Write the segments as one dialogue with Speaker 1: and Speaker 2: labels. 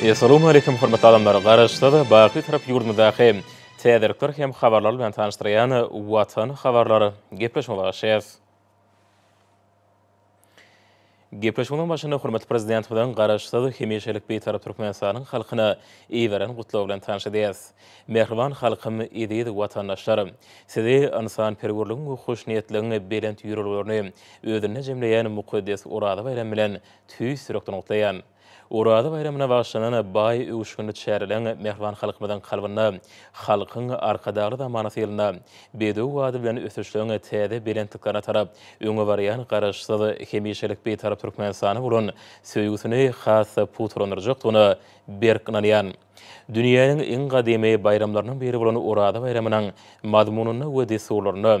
Speaker 1: Essalawmaleýkim hormatly adamlar! Garaşsyz, baky tarap ýurdumyzdaky täzelikler hem habarlar bilen tanyşdyrýan Watan habarlar gepleşigine garaşýas. Gepleşigiň başynda hormatly Prezidentimiziň Garaşsyz, hemişelik Bitarap Türkmenistanyň halkyna iberen gutlagy bilen tanyş edýäs. Mähriban halkym, eziz watandaşlar! Sizi ynsanperwerligiň we hoşniýetligiň belent ýörelgelerini özünde jemleýän mukaddes Oraza baýramy bilen tüýs ýürekden gutlaýan. Oraza baýramyna bagyşlanan baý öwüşginli çäreleriň mähriban halkymyzyň kalbynda halkyň Arkadagly zamanasy ýylynda bedew wady bilen ösüşleriň täze belentliklerine tarap öňe barýan Garaşsyz, hemişelik Bitarap Türkmenistana bolan söýgüsini has-da pugtalandyrjakdygyna berk ynanýan Dünýäniň iň gadymy baýramlarynyň biri bolan Oraza baýramynyň mazmunynda we dessurlarynda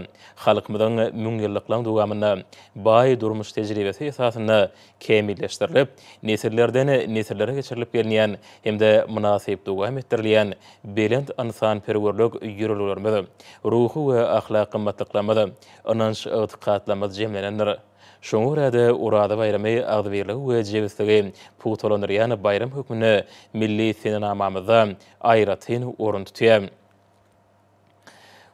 Speaker 1: halkymyzyň müňýyllyklaryň dowamynda baý durmuş tejribesi esasynda kämilleşdirilip, nesillerden nesillere geçirilip gelinýän hem-de mynasyp dowam etdirilýän belent ynsanperwerlik ýörelgelerimiz, ruhy we ahlak gymmatlyklarymyz, ynanç-ygtykatlarymyz jemlenendir. Şoňa görä-de, Oraza baýramy agzybirligi we jebisligi pugtalandyrýan baýram hökmünde milli senenamamyzda aýratyn orun tutýar.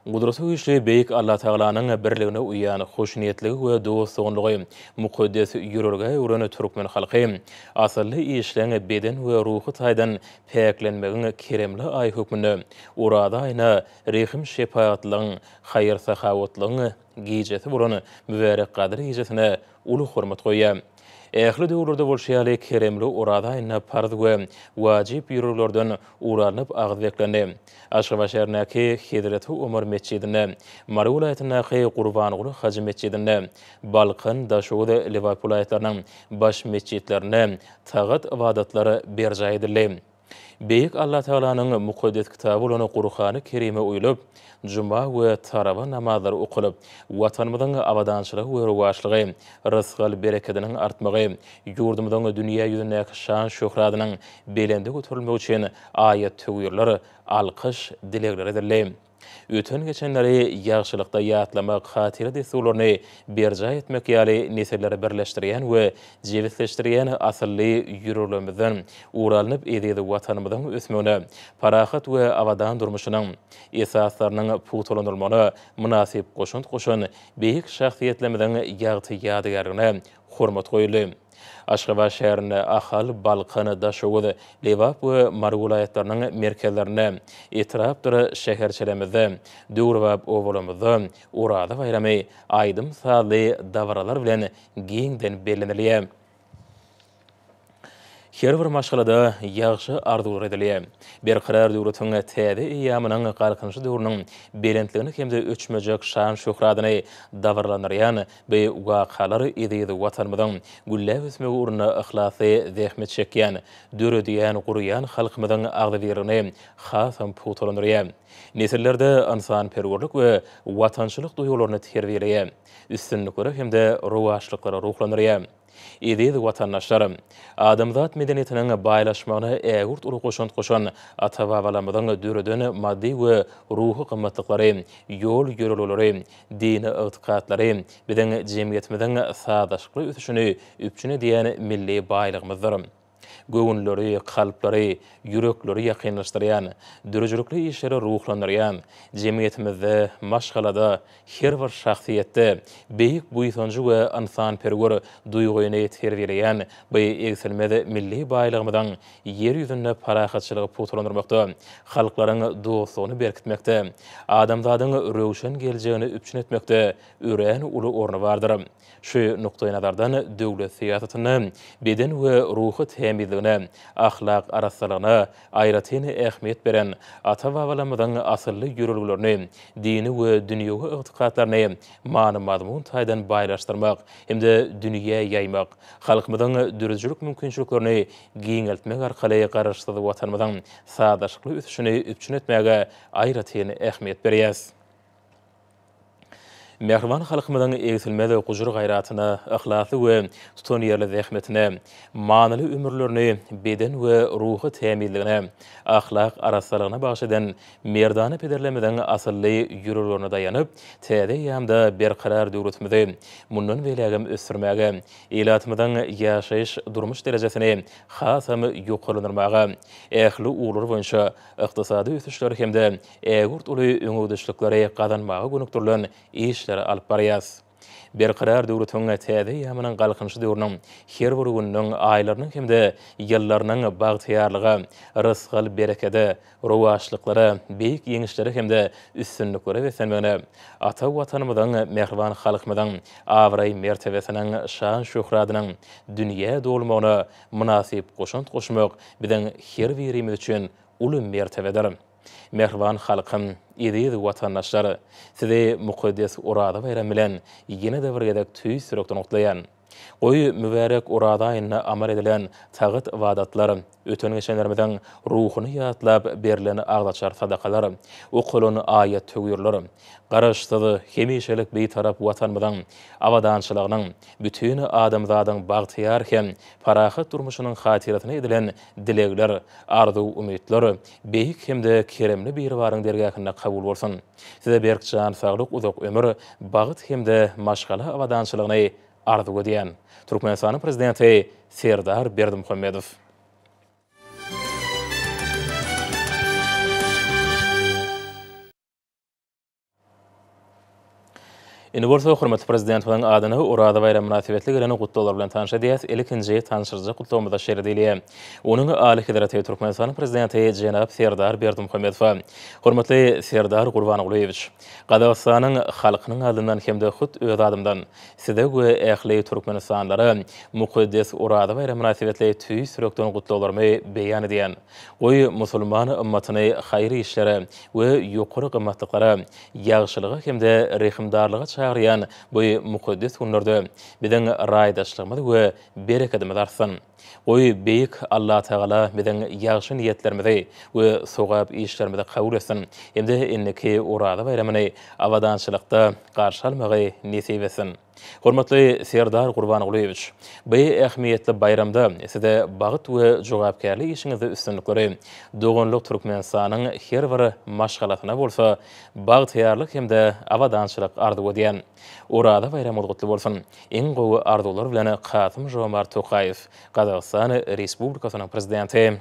Speaker 1: Gudraty güýçli Beýik Allatagalanyň birligine uýýan, hoşniýetligi we dost-doganlygy mukaddes ýörelgä öwren türkmen halky asylly işleň, beden we ruhy taýdan päklenmegiň keremli aýy hökmünde Oraza aýyna rehim-şepagatlylygyň, haýyr-sahawatlygyň, gijesi bolan mübärek Gadyr gijesine uly hormat goýýar. Ähli döwürlerde bolşy ýaly, keremli Oraz aýynda parz we wajyp býuroglardan ugur alnyp agyz beklendi. Aşgabat şäherindäki Hezreti Omar metjidinde, Mary welaýatyndaky Gurbanguly hajy metjidinde, Balkan, Daşoguz, Lebap welaýatlarynyň baş metjitlerinde tagat ybadatlar berjaý edildi. Beýik Allatagalanyň mukaddes kitaby bolan Gurhany Kerime uýlup, juma we tarawa namazlary okalyp, Watanymyzyň abadançylygy we rowaçlygy, rysgal-berekediniň artmagy, ýurdumyzyň dünýä ýüzündäki şan-şöhradynyň belende göterilmegi üçin aýat-töwirler, alkyş, dilegler edildi. Öten-geçenleri ýagşylykda ýatlamak, hatyra dessurlaryny berjaý etmek ýaly nesilleri birleşdirýän we jebisleşdirýän asylly ýüreglerimizden ugur alnyp, eziz Watanymyzyň ösmegine, parahat we abadan durmuşynyň esaslarynyň pugtalandyrylmagyna mynasyp goşant goşan beýik şahsyýetlerimiziň ýagty ýadygärligine hormat goýuldy. Aşgabat şäherinde, Ahal, Balkan, Daşoguz, Lebap we Mary welaýatlarynyň merkezlerinde, etrapdyr şäherçelemizde, döwrebap obalarymyzda Oraza baýramy aýdym-sazly dabaralar bilen giňden bellenilýär. Her bir maşgalada ýagşy arzuwlar edilýär. Berkarar döwletiň täze eýýamynyň Galkynyşy döwrüniň belentligini hem-de öçmejek şan-şöhratyny dabaralandyrýan Bu wakalar eziz Watanymyzyň gülläp ösmegi ugrunda yhlasly zähmet çekýän, döredýän, gurýan halkymyzyň agzybirligini hasam pugtalandyrýar. Nesillerde ynsanperwerlik we watançylyk duýgularyny terbiýeleýär, üstünliklere hem-de rowaçlyklara ruhlandyrýar. Eziz watandaşlarym! Adamzat medeniýetiniň baýlaşmagyna ägirt uly goşant goşan ata-babalarymyzyň döreden maddy we ruhy gymmatlyklary, ýol-ýörelgeleri, dini ygtykatlary biziň jemgyýetimiziň sazlaşykly ösüşini üpjün edýän milli baýlygymyzdyr. Göwünleri, kalplary, ýürekleri ýakynlaşdyrýan, döredijilikli işlere ruhlandyrýan, jemgyýetimizde, maşgalada, her bir şahsyýetde beýik buýsanjy we ynsanperwer duýgyny terbiýeleýän bu egsilmez milli baýlygymyzyň Ýer ýüzünde parahatçylygy pugtalandyrmakda, halklaryň dostlugyny berkitmekde, adamzadyň röwşen geljegini üpjün etmekde örän uly orny bardyr. Şu nukdaýnazardan döwlet syýasatynda beden we ruhy tämizligine, ahlak arassalygyna aýratyn ähmiýet beren, ata-babalarymyzyň asylly ýörelgelerini, dini we dünýewi ygtykatlaryny many-mazmun taýdan baýlaşdyrmak hem-de dünýä ýaýmak, halkymyzyň döredijilik mümkinçiliklerini giňeltmek arkaly Garaşsyz Watanymyzyň sazlaşykly ösüşini üpjün etmäge aýratyn ähmiýet berýäs. Mähriban halkymyzyň egsilmez gujur-gaýratyna, yhlasly we tutanýerli zähmetine, manyly ömürlerini beden we ruhy tämizligine, ahlak arassalygyna bagyş eden merdana pederlerimiziň asylly ýüreglerine daýanyp, täze eýýamda berkarar döwletimizi mundan beýlägem ösdürmäge, ilatymyzyň ýaşaýyş-durmuş derejesini hasam ýokarlandyrmaga, ähli ugurlar boýunça ykdysady ösüşleri hem-de Ägirt uly öňegidişlikleri gazanmaga gönükdirilen işleri alyp barýarys. Berkarar döwletiň täze eýýamynyň Galkynyş döwrüniň her bir gününiň, aýlarynyň hem-de ýyllarynyň bagtyýarlyga, rysgal-berekede, rowaçlyklara, beýik ýeňişlere hem-de üstünliklere beslenmegine, ata Watanymyzyň, mähriban halkymyzyň abraý-mertebesiniň, şan-şöhratynyň dünýä dolmagyna mynasyp goşant goşmak biziň her birimiz üçin uly mertebedir. Mähriban halkym, eziz watandaşlar! Sizi mukaddes Oraza baýramy bilen ýene-de bir gezek tüýs ýürekden gutlaýan. Goý, mübärek Oraza aýynda amal edilen tagyt-ybadatlar, öten-geçenlerimiziň ruhuny ýatlap berlen agzaçar sadakalar, okalan aýat-töwirler Garaşsyz, hemişelik Bitarap Watanymyzyň abadançylygynyň, bütin adamzadyň bagtyýar hem parahat durmuşynyň hatyrasyna edilen dilegler, arzuw-umytlar, Beýik hem-de keremli Biribaryň dergähinde kabul bolsun! Size berk jan saglyk, uzak ömür, bagt hem-de maşgala abadançylygyny arzuw edýän. Türkmenistanyň Prezidenti Serdar Berdimuhamedow. Indi bolsa hormatly Prezidentimiziň adyna Oraza baýramy mynasybetli gelen gutlaglar bilen tanşadýas. Ilkinji tanşyryjak gutlagymyzda şeýle diýilýär. Onuň Alyhezreti Türkmenistanyň Prezidenti jenap Serdar Berdimuhamedowa. Hormatly Serdar Gurbangulyýewiç! Gazagystanyň halkynyň adyndan hem-de hut öz adymdan Size we ähli türkmenistanlylara mukaddes Oraza baýramy mynasybetli tüýs ýürekden gutlaglarymy beýan edýän. Goý, musulman ymmatyny haýyr işlere we ýokary gymmatlyklara, ýagşylyga hem-de rehimdarlyga çagyrýan bu mukaddes günlerde biziň raýdaşlygymyz we berekedimiz artsyn! Goý, Beýik Allatagala biziň ýagşy niýetlerimizi we sogap işlerimizi kabul etsin hem-de indiki Oraza baýramyny abadançylykda garşy almagy nesip etsin! Hormatly Serdar Gurbangulyýewiç! Bu ähmiýetli baýramda Size bagt we jogapkärli işiňizde üstünlikleri, doganlyk Türkmenistanyň her bir maşgalasyna bolsa bagtyýarlyk hem-de abadançylyk arzuw edýän. Oraza baýramyňyz gutly bolsun! Iň gowy arzuwlar bilen Kasym-Žomart Tokaýew, Gazagystan Respublikasynyň Prezidenti.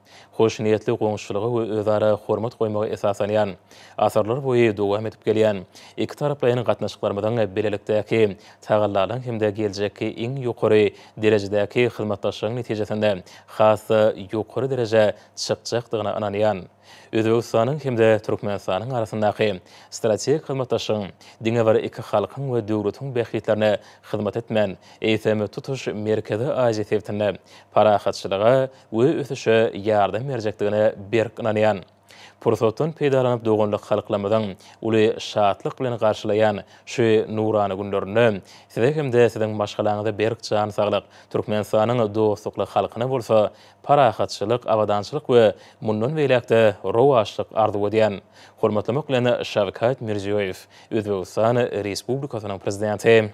Speaker 1: hoşniýetli goňşuçylyga we özara hormat goýmaga esaslanýan, asyrlarboýy dowam edip gelýän ikitaraplaýyn gatnaşyklarymyzyň bilelikdäki tagallalaryň hem-de geljekki iň ýokary derejedäki hyzmatdaşlygyň netijesinde has-da ýokary derejä çykjakdygyna ynanýan Özbegistanyň hem-de Türkmenistanyň arasyndaky strategik hyzmatdaşlygyň diňe bir iki halkyň we döwletiň bähbitlerine hyzmat etmän, eýsem, tutuş Merkezi Aziýa sebitinde parahatçylyga we ösüşe ýardam berjekdigine berk ynanýan. Pursatdan peýdalanyp doganlyk halklarymyzyň uly şatlyk bilen garşylaýan şu nurana günlerinde Size hem-de Siziň maşgalaňyza berk jan saglyk, Türkmenistanyň dostlukly halkyna bolsa parahatçylyk, abadançylyk we mundan beýläk-de rowaçlyk arzuw edýän. Hormatlamak bilen Şawkat Mirziýoýew, Özbegistan Respublikasynyň Prezidenti.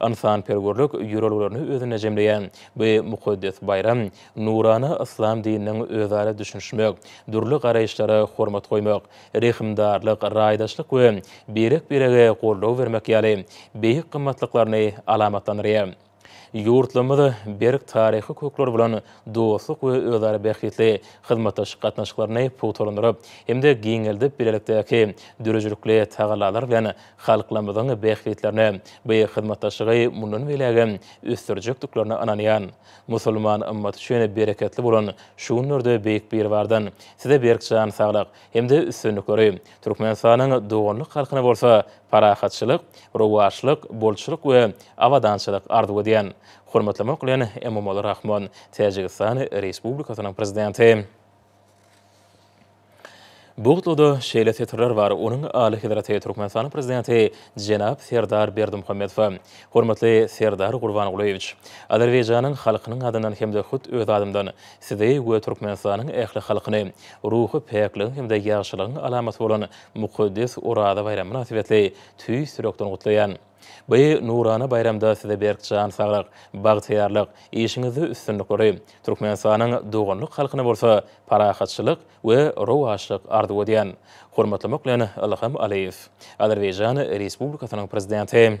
Speaker 1: Ynsanperwerlik ýörelgelerini özünde jemleýän bu mukaddes baýram nurana yslam dininiň özara düşünişmek, dürli garaýyşlara hormat goýmak, rehimdarlyk, raýdaşlyk we birek-birege goldaw bermek ýaly beýik gymmatlyklaryny alamatlandyrýar. Ýurtlarymyz berk taryhy kökleri bolan dostluk we özara bähbitli hyzmatdaşlyk gatnaşyklaryny pugtalandyryp hem-de giňeldip bilelikdäki döredijilikli tagallalar bilen halklarymyzyň bähbitlerine beýik hyzmatdaşlygy mundan beýlägem ösdürjekdiklerine ynanýan musulman ymmaty üçin bereketli bolan şu günlerde Beýik Biribardan Size berk jan saglyk hem-de üstünlikleri, Türkmenistanyň doganlyk halkyna bolsa parahatçylyk, rowaçlyk, bolçulyk we abadançylyk arzuw edýän. Hormatlamak bilen, Emomali Rahmon, Täjigistan Respublikasynyň Prezidenti. Bugtlyda şeýle setirler bar, Onuň Alyhezreti Türkmenistanyň Prezidenti jenap Serdar Berdimuhamedowa, Hormatly Serdar Gurbangulyýewiç! Azerbaýjanyň halkynyň adyndan hem-de hut öz adymdan Sizi we Türkmenistanyň ähli halkyny ruhy päkligiň hem-de ýagşylygyň alamaty bolan mukaddes Oraza baýramy mynasybetli tüýs ýürekden gutlaýan. Bu nurana baýramda size berk jan saglyk, bagtyýarlyk, işiňizde üstünlikleri, Türkmenistanyň doganlyk halkyna bolsa parahatçylyk we rowaçlyk arzuw edýän. Hormatlamak bilen, Ylham Alyýew. Azerbaýjan Respublikasynyň Prezidenti.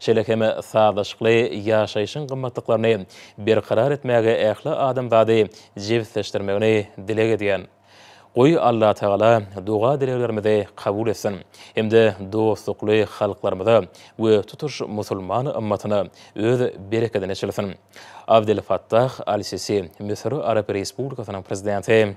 Speaker 1: şeýle hem sazlaşykly ýaşaýşyň gymmatlyklaryny berkarar etmäge ähli adamzady jebisleşdirmegini dileg edýän. Goý, Allatagala doga-dileglerimizi kabul etsin hem-de dostlukly halklarymyza we tutuş musulman ymmatyna öz berekedini çilsin. Abdel Fattah Al-Sisi, Müsür Arap Respublikasynyň Prezidenti.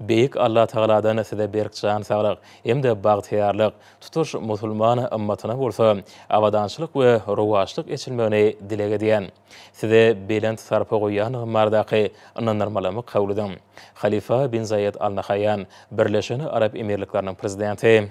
Speaker 1: Beýik Allatagaladan size berk jan saglyk hem-de bagtyýarlyk, tutuş musulman ymmatyna bolsa abadançylyk we rowaçlyk eçilmegini dileg edýän. Size belent sarpa goýýandygym bardaky ynandyrmalamy kabul ediň. Halyfa bin Zaýed Al Nahaýýan, Birleşen Arap Emirlikleriniň Prezidenti.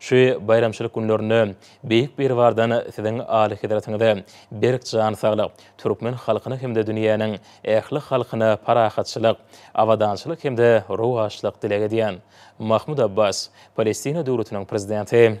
Speaker 1: Şu baýramçylyk günlerinde Beýik Biribardan Siziň Alyhezretiňize berk jan saglyk, türkmen halkyna hem-de dünýäniň ähli halkyna parahatçylyk, abadançylyk hem-de rowaçlyk dileg edýän. Mahmud Abbas, Palestina Döwletiniň Prezidenti.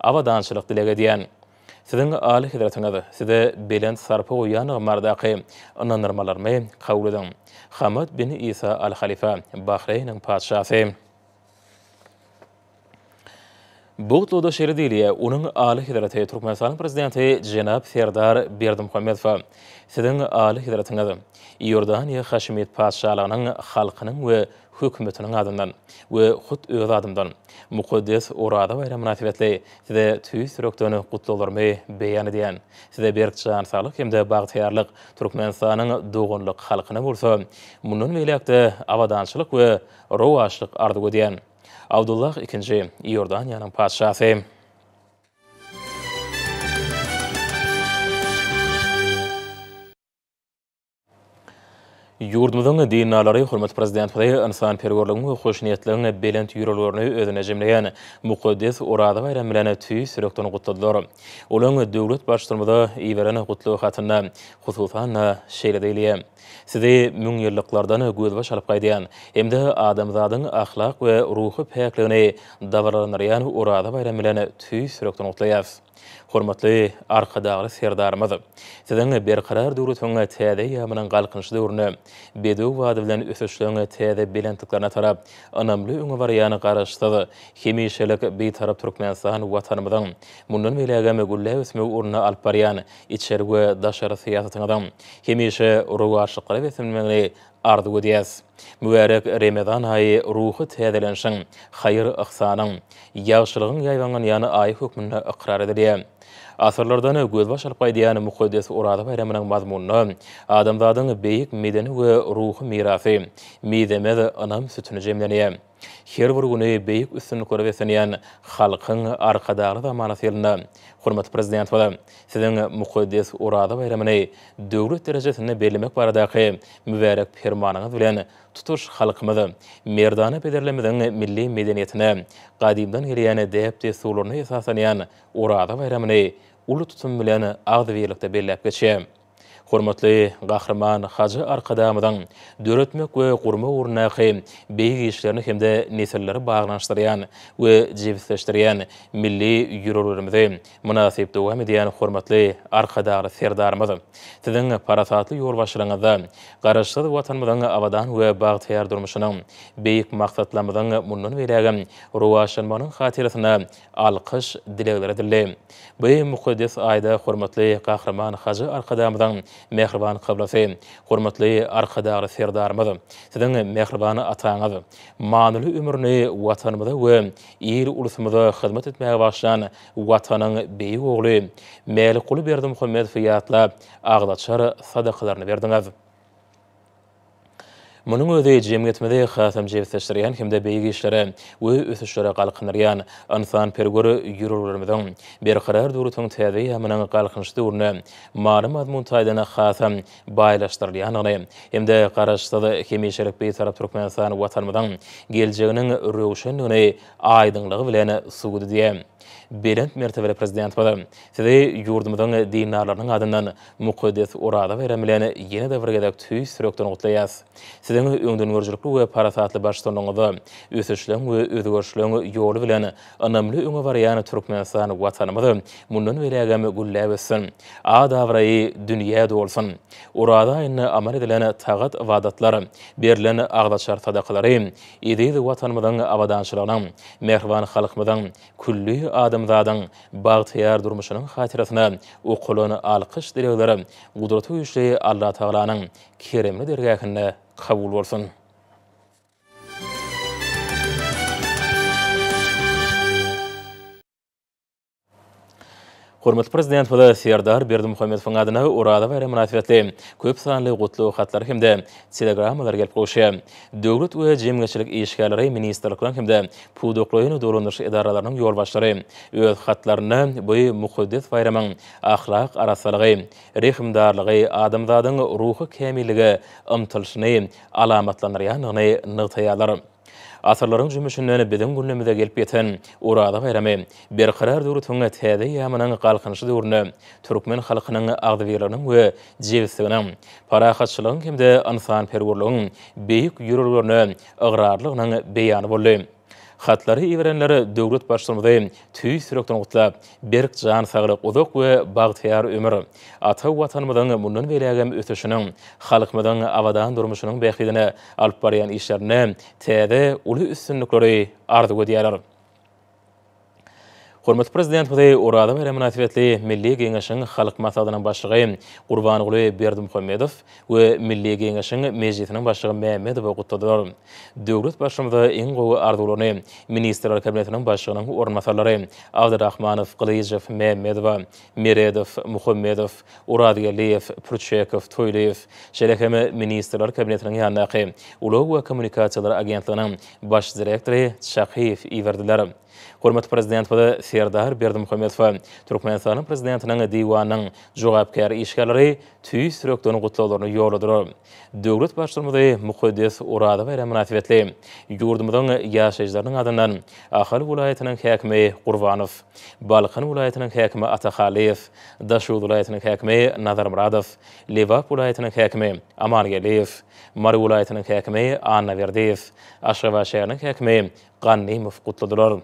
Speaker 1: Abadançylyk dileg edýän. Siziň Alyhezretiňiz size belent sarpa goýýanlygym baradaky ynandyrmalarymy kabul ediň. Hamad bin Isa Al Halifa, Bahreýniň Patyşasy. Bu gutlagyda şeýle diýilýär, Onuň Alyhezreti Türkmenistanyň Prezidenti jenap Serdar Berdimuhamedowa, Siziň Alyhezretiňiz, Iordaniýa Haşemit Patyşalygynyň halkynyň we Hökümetiniň adyndan we hut öz adymdan mukaddes Oraza baýramy mynasybetli Size tüýs ýürekden gutlaglarymy beýan edýän. Size berk jan saglyk hem-de bagtyýarlyk, Türkmenistanyň doganlyk halkyna bolsa mundan beýläk-de abadançylyk we rowaçlyk arzuw edýän. Abdullah Ikinji, Iordaniýanyň Patyşasy. Ýurdumyzyň dindarlary hormatly Prezidentimizi ynsanperwerligiň we hoşniýetligiň belent ýörelgelerini özünde jemleýän mukaddes Oraza baýramy bilen tüýs ýürekden gutladylar. Olaryň döwlet Baştutanymyza iberen gutlag hatynda, hususan-da, şeýle diýilýär, Sizi müňýyllyklardan gözbaş alyp gaýdýan hem-de adamzadyň ahlak we ruhy päkligini dabaralandyrýan Oraza baýramy bilen tüýs ýürekden gutlaýarys. Hormatly Arkadagly Serdarymyz! Siziň Berkarar döwletiň täze eýýamynyň Galkynyş döwrüne, bedew bady bilen ösüşleriň täze belentliklerine tarap ynamly öňe barýan Garaşsyz, hemişelik Bitarap Türkmenistan Watanymyzyň mundan beýlägem gülläp ösmegi ugrunda alyp barýan içeri we daşary syýasatyňyzyň hemişe rowaçlyklara beslenmegini Arzuw edýäs, mübärek Remezan aýy ruhy täzelenişiň, haýyr-yhsanyň, ýagşylygyň ýaýbaňlanýan aýy hökmünde ykrar edilýär. Asyrlardan gözbaş alyp gaýdýan mukaddes Oraza baýramynyň mazmunynda adamzadyň beýik medeni we ruhy mirasy, mizemez ynam sütüni jemlenýär. Her bir güni beýik üstünliklere beslenýän halkyň Arkadagly zamanasy ýylynda hormatly Prezidentimiz Siziň mukaddes Oraza baýramyny döwlet derejesinde bellemek baradaky mübärek Permanyňyz bilen tutuş halkymyz merdana pederlerimiziň milli medeniýetine, gadymdan gelýän däp-dessurlaryna esaslanýan Oraza baýramyny uly tutum bilen agzybirlikde belläp geçýär. Hormatly Gahryman Hajy Arkadagymyzyň döretmek we gurmak ugrundaky beýik işlerini hem-de nesilleri baglanyşdyrýan we jebisleşdirýän milli ýörelgelerimizi mynasyp dowam edýän hormatly Arkadagly Serdarymyz Siziň parasatly ýolbaşçylygyňyzda Garaşsyz Watanymyzyň abadan we bagtyýar durmuşynyň, beýik maksatlarymyzyň mundan beýlägem rowaçlanmagynyň hatyrasyna alkyş dilegleri edildi. Bu mukaddes aýda hormatly Gahryman Hajy Arkadagymyzyň mähriban kyblasy, hormatly Arkadagly Serdarymyz, Siziň mähriban ataňyz, manyly ömrüni Watanymyza we il-ulusymyza hyzmat etmäge bagyşlan Watanyň beýik ogly Mälikguly Berdimuhamedowy ýatlap, agzaçar sadakalaryny berdiňiz. Munuň özi jemgyýetimizi hasam jebisleşdirýän hem-de beýik işlere we ösüşlere galkyndyrýan ynsanperwer ýörelgelerimiziň, Berkarar döwletiň täze ýamynyň Galkynyş döwründe many-mazmun taýdan hasam baýlaşdyrylýandygyny hem-de Garaşsyz, hemişelik Bitarap Türkmenistan Watanymyzyň geljeginiň röwşendigini aýdyňlygy bilen subut edýär. Belent mertebeli Prezidentimiz Sizi ýurdumyzyň dindarlarynyň adyndan Mukaddes Oraza baýramy bilen ýene-de bir gezek tüýs ýürekden gutlaýas! Siziň öňdengörüjilikli we parasatly baştutanlygyňyzda ösüşleň we özgerişleň ýoly bilen ynamly öňe barýan Türkmenistan Watanymyz mundan beýlägem gülläp össün, at-abraýy dünýä dolsun! Oraza aýynda amal edilen tagat-ybadatlar, berlen agzaçar sadakalary eziz Watanymyzyň abadançylygynyň, mähriban halkymyzyň Külli adamzadyň bagtyýar durmuşynyň hatyrasyna okulan alkyş dilegler Gudraty güýçli Allatagalanyň keremli dergähinde kabul bolsun! Hormatly Prezidentimize Serdar Berdimuhamedowyň adyna Oraza baýramy mynasybetli köp sanly gutlag hatlar hem-de telegrammalar gelip gowuşýar. Döwlet we jemgyýetçilik işgärleri, ministrlikleriň hem-de pudaklaýyn dolandyryş edaralarynyň ýolbaşçylary öz hatlarynda bu mukaddes baýramyň ahlak arassalygy, rehimdarlygy, adamzadyň ruhy kämillige ymtylyşyny alamatlandyrýandygyny nygtaýarlar. Asyrlaryň jümmüşinden biziň günlerimize gelip ýeten Oraza baýramy Berkarar döwletiň täze eýýamynyň Galkynyşy döwründe türkmen halkynyň agzybirliginiň we jebisliginiň, parahatçylygyň hem-de ynsanperwerligiň beýik ýörelgelerine ygrarlygynyň beýany boldy. Hatlary iberenler döwlet Baştutanymyzy tüýs ýürekden gutlap, Berk jan saglyk, uzak we bagtyýar ömür, ata Watanymyzyň mundan beýlägem ösüşiniň, halkymyzyň abadan durmuşynyň bähbidine alyp barýan işlerinde täze uly üstünlikleri arzuw edýärler. Hormatly Prezidentimizi Oraza baýramy mynasybetli Milli Geňeşiň Halk Maslahatynyň Başlygy Gurbanguly Berdimuhamedow, we Milli Geňeşiň Mejlisiniň Başlygy Mämmedowy gutladylar. Döwlet Baştutanyma iň gowy arzuwlaryny Ministrler Kabinetiniň Başlygynyň orunbasarlary Abdyrahmanow, Gylyjow, Mämmedowa, Meredow, Muhammedow, Orazgeldiýew, Pürçekow, Toýlyýew, şeýle hem Ministrler Kabinetiniň ýanyndaky Ulag we kommunikasiýalar agentliginiň Baş direktory Çakyýew iberdiler. Hormatly Prezidentimiz Serdar Berdimuhamedowa Türkmenistanyň Prezidentiniň Diwanynyň jogapkär işgärleri tüýs ýürekden gutlaglaryny ýolladylar. Döwlet Baştutanymyzy mukaddes Oraza baýramy mynasybetli ýurdumyzyň ýaşaýjylarynyň adyndan Ahal welaýatynyň häkimi Gurbanow, Balkan welaýatynyň häkimi Atahalyýew, Daşoguz welaýatynyň häkimi Nazarmyradow, Lebap welaýatynyň häkimi Amangeldiýew, Mary welaýatynyň häkimi Annaberdiýew, Aşgabat şäheriniň häkimi Gannymow gutladylar.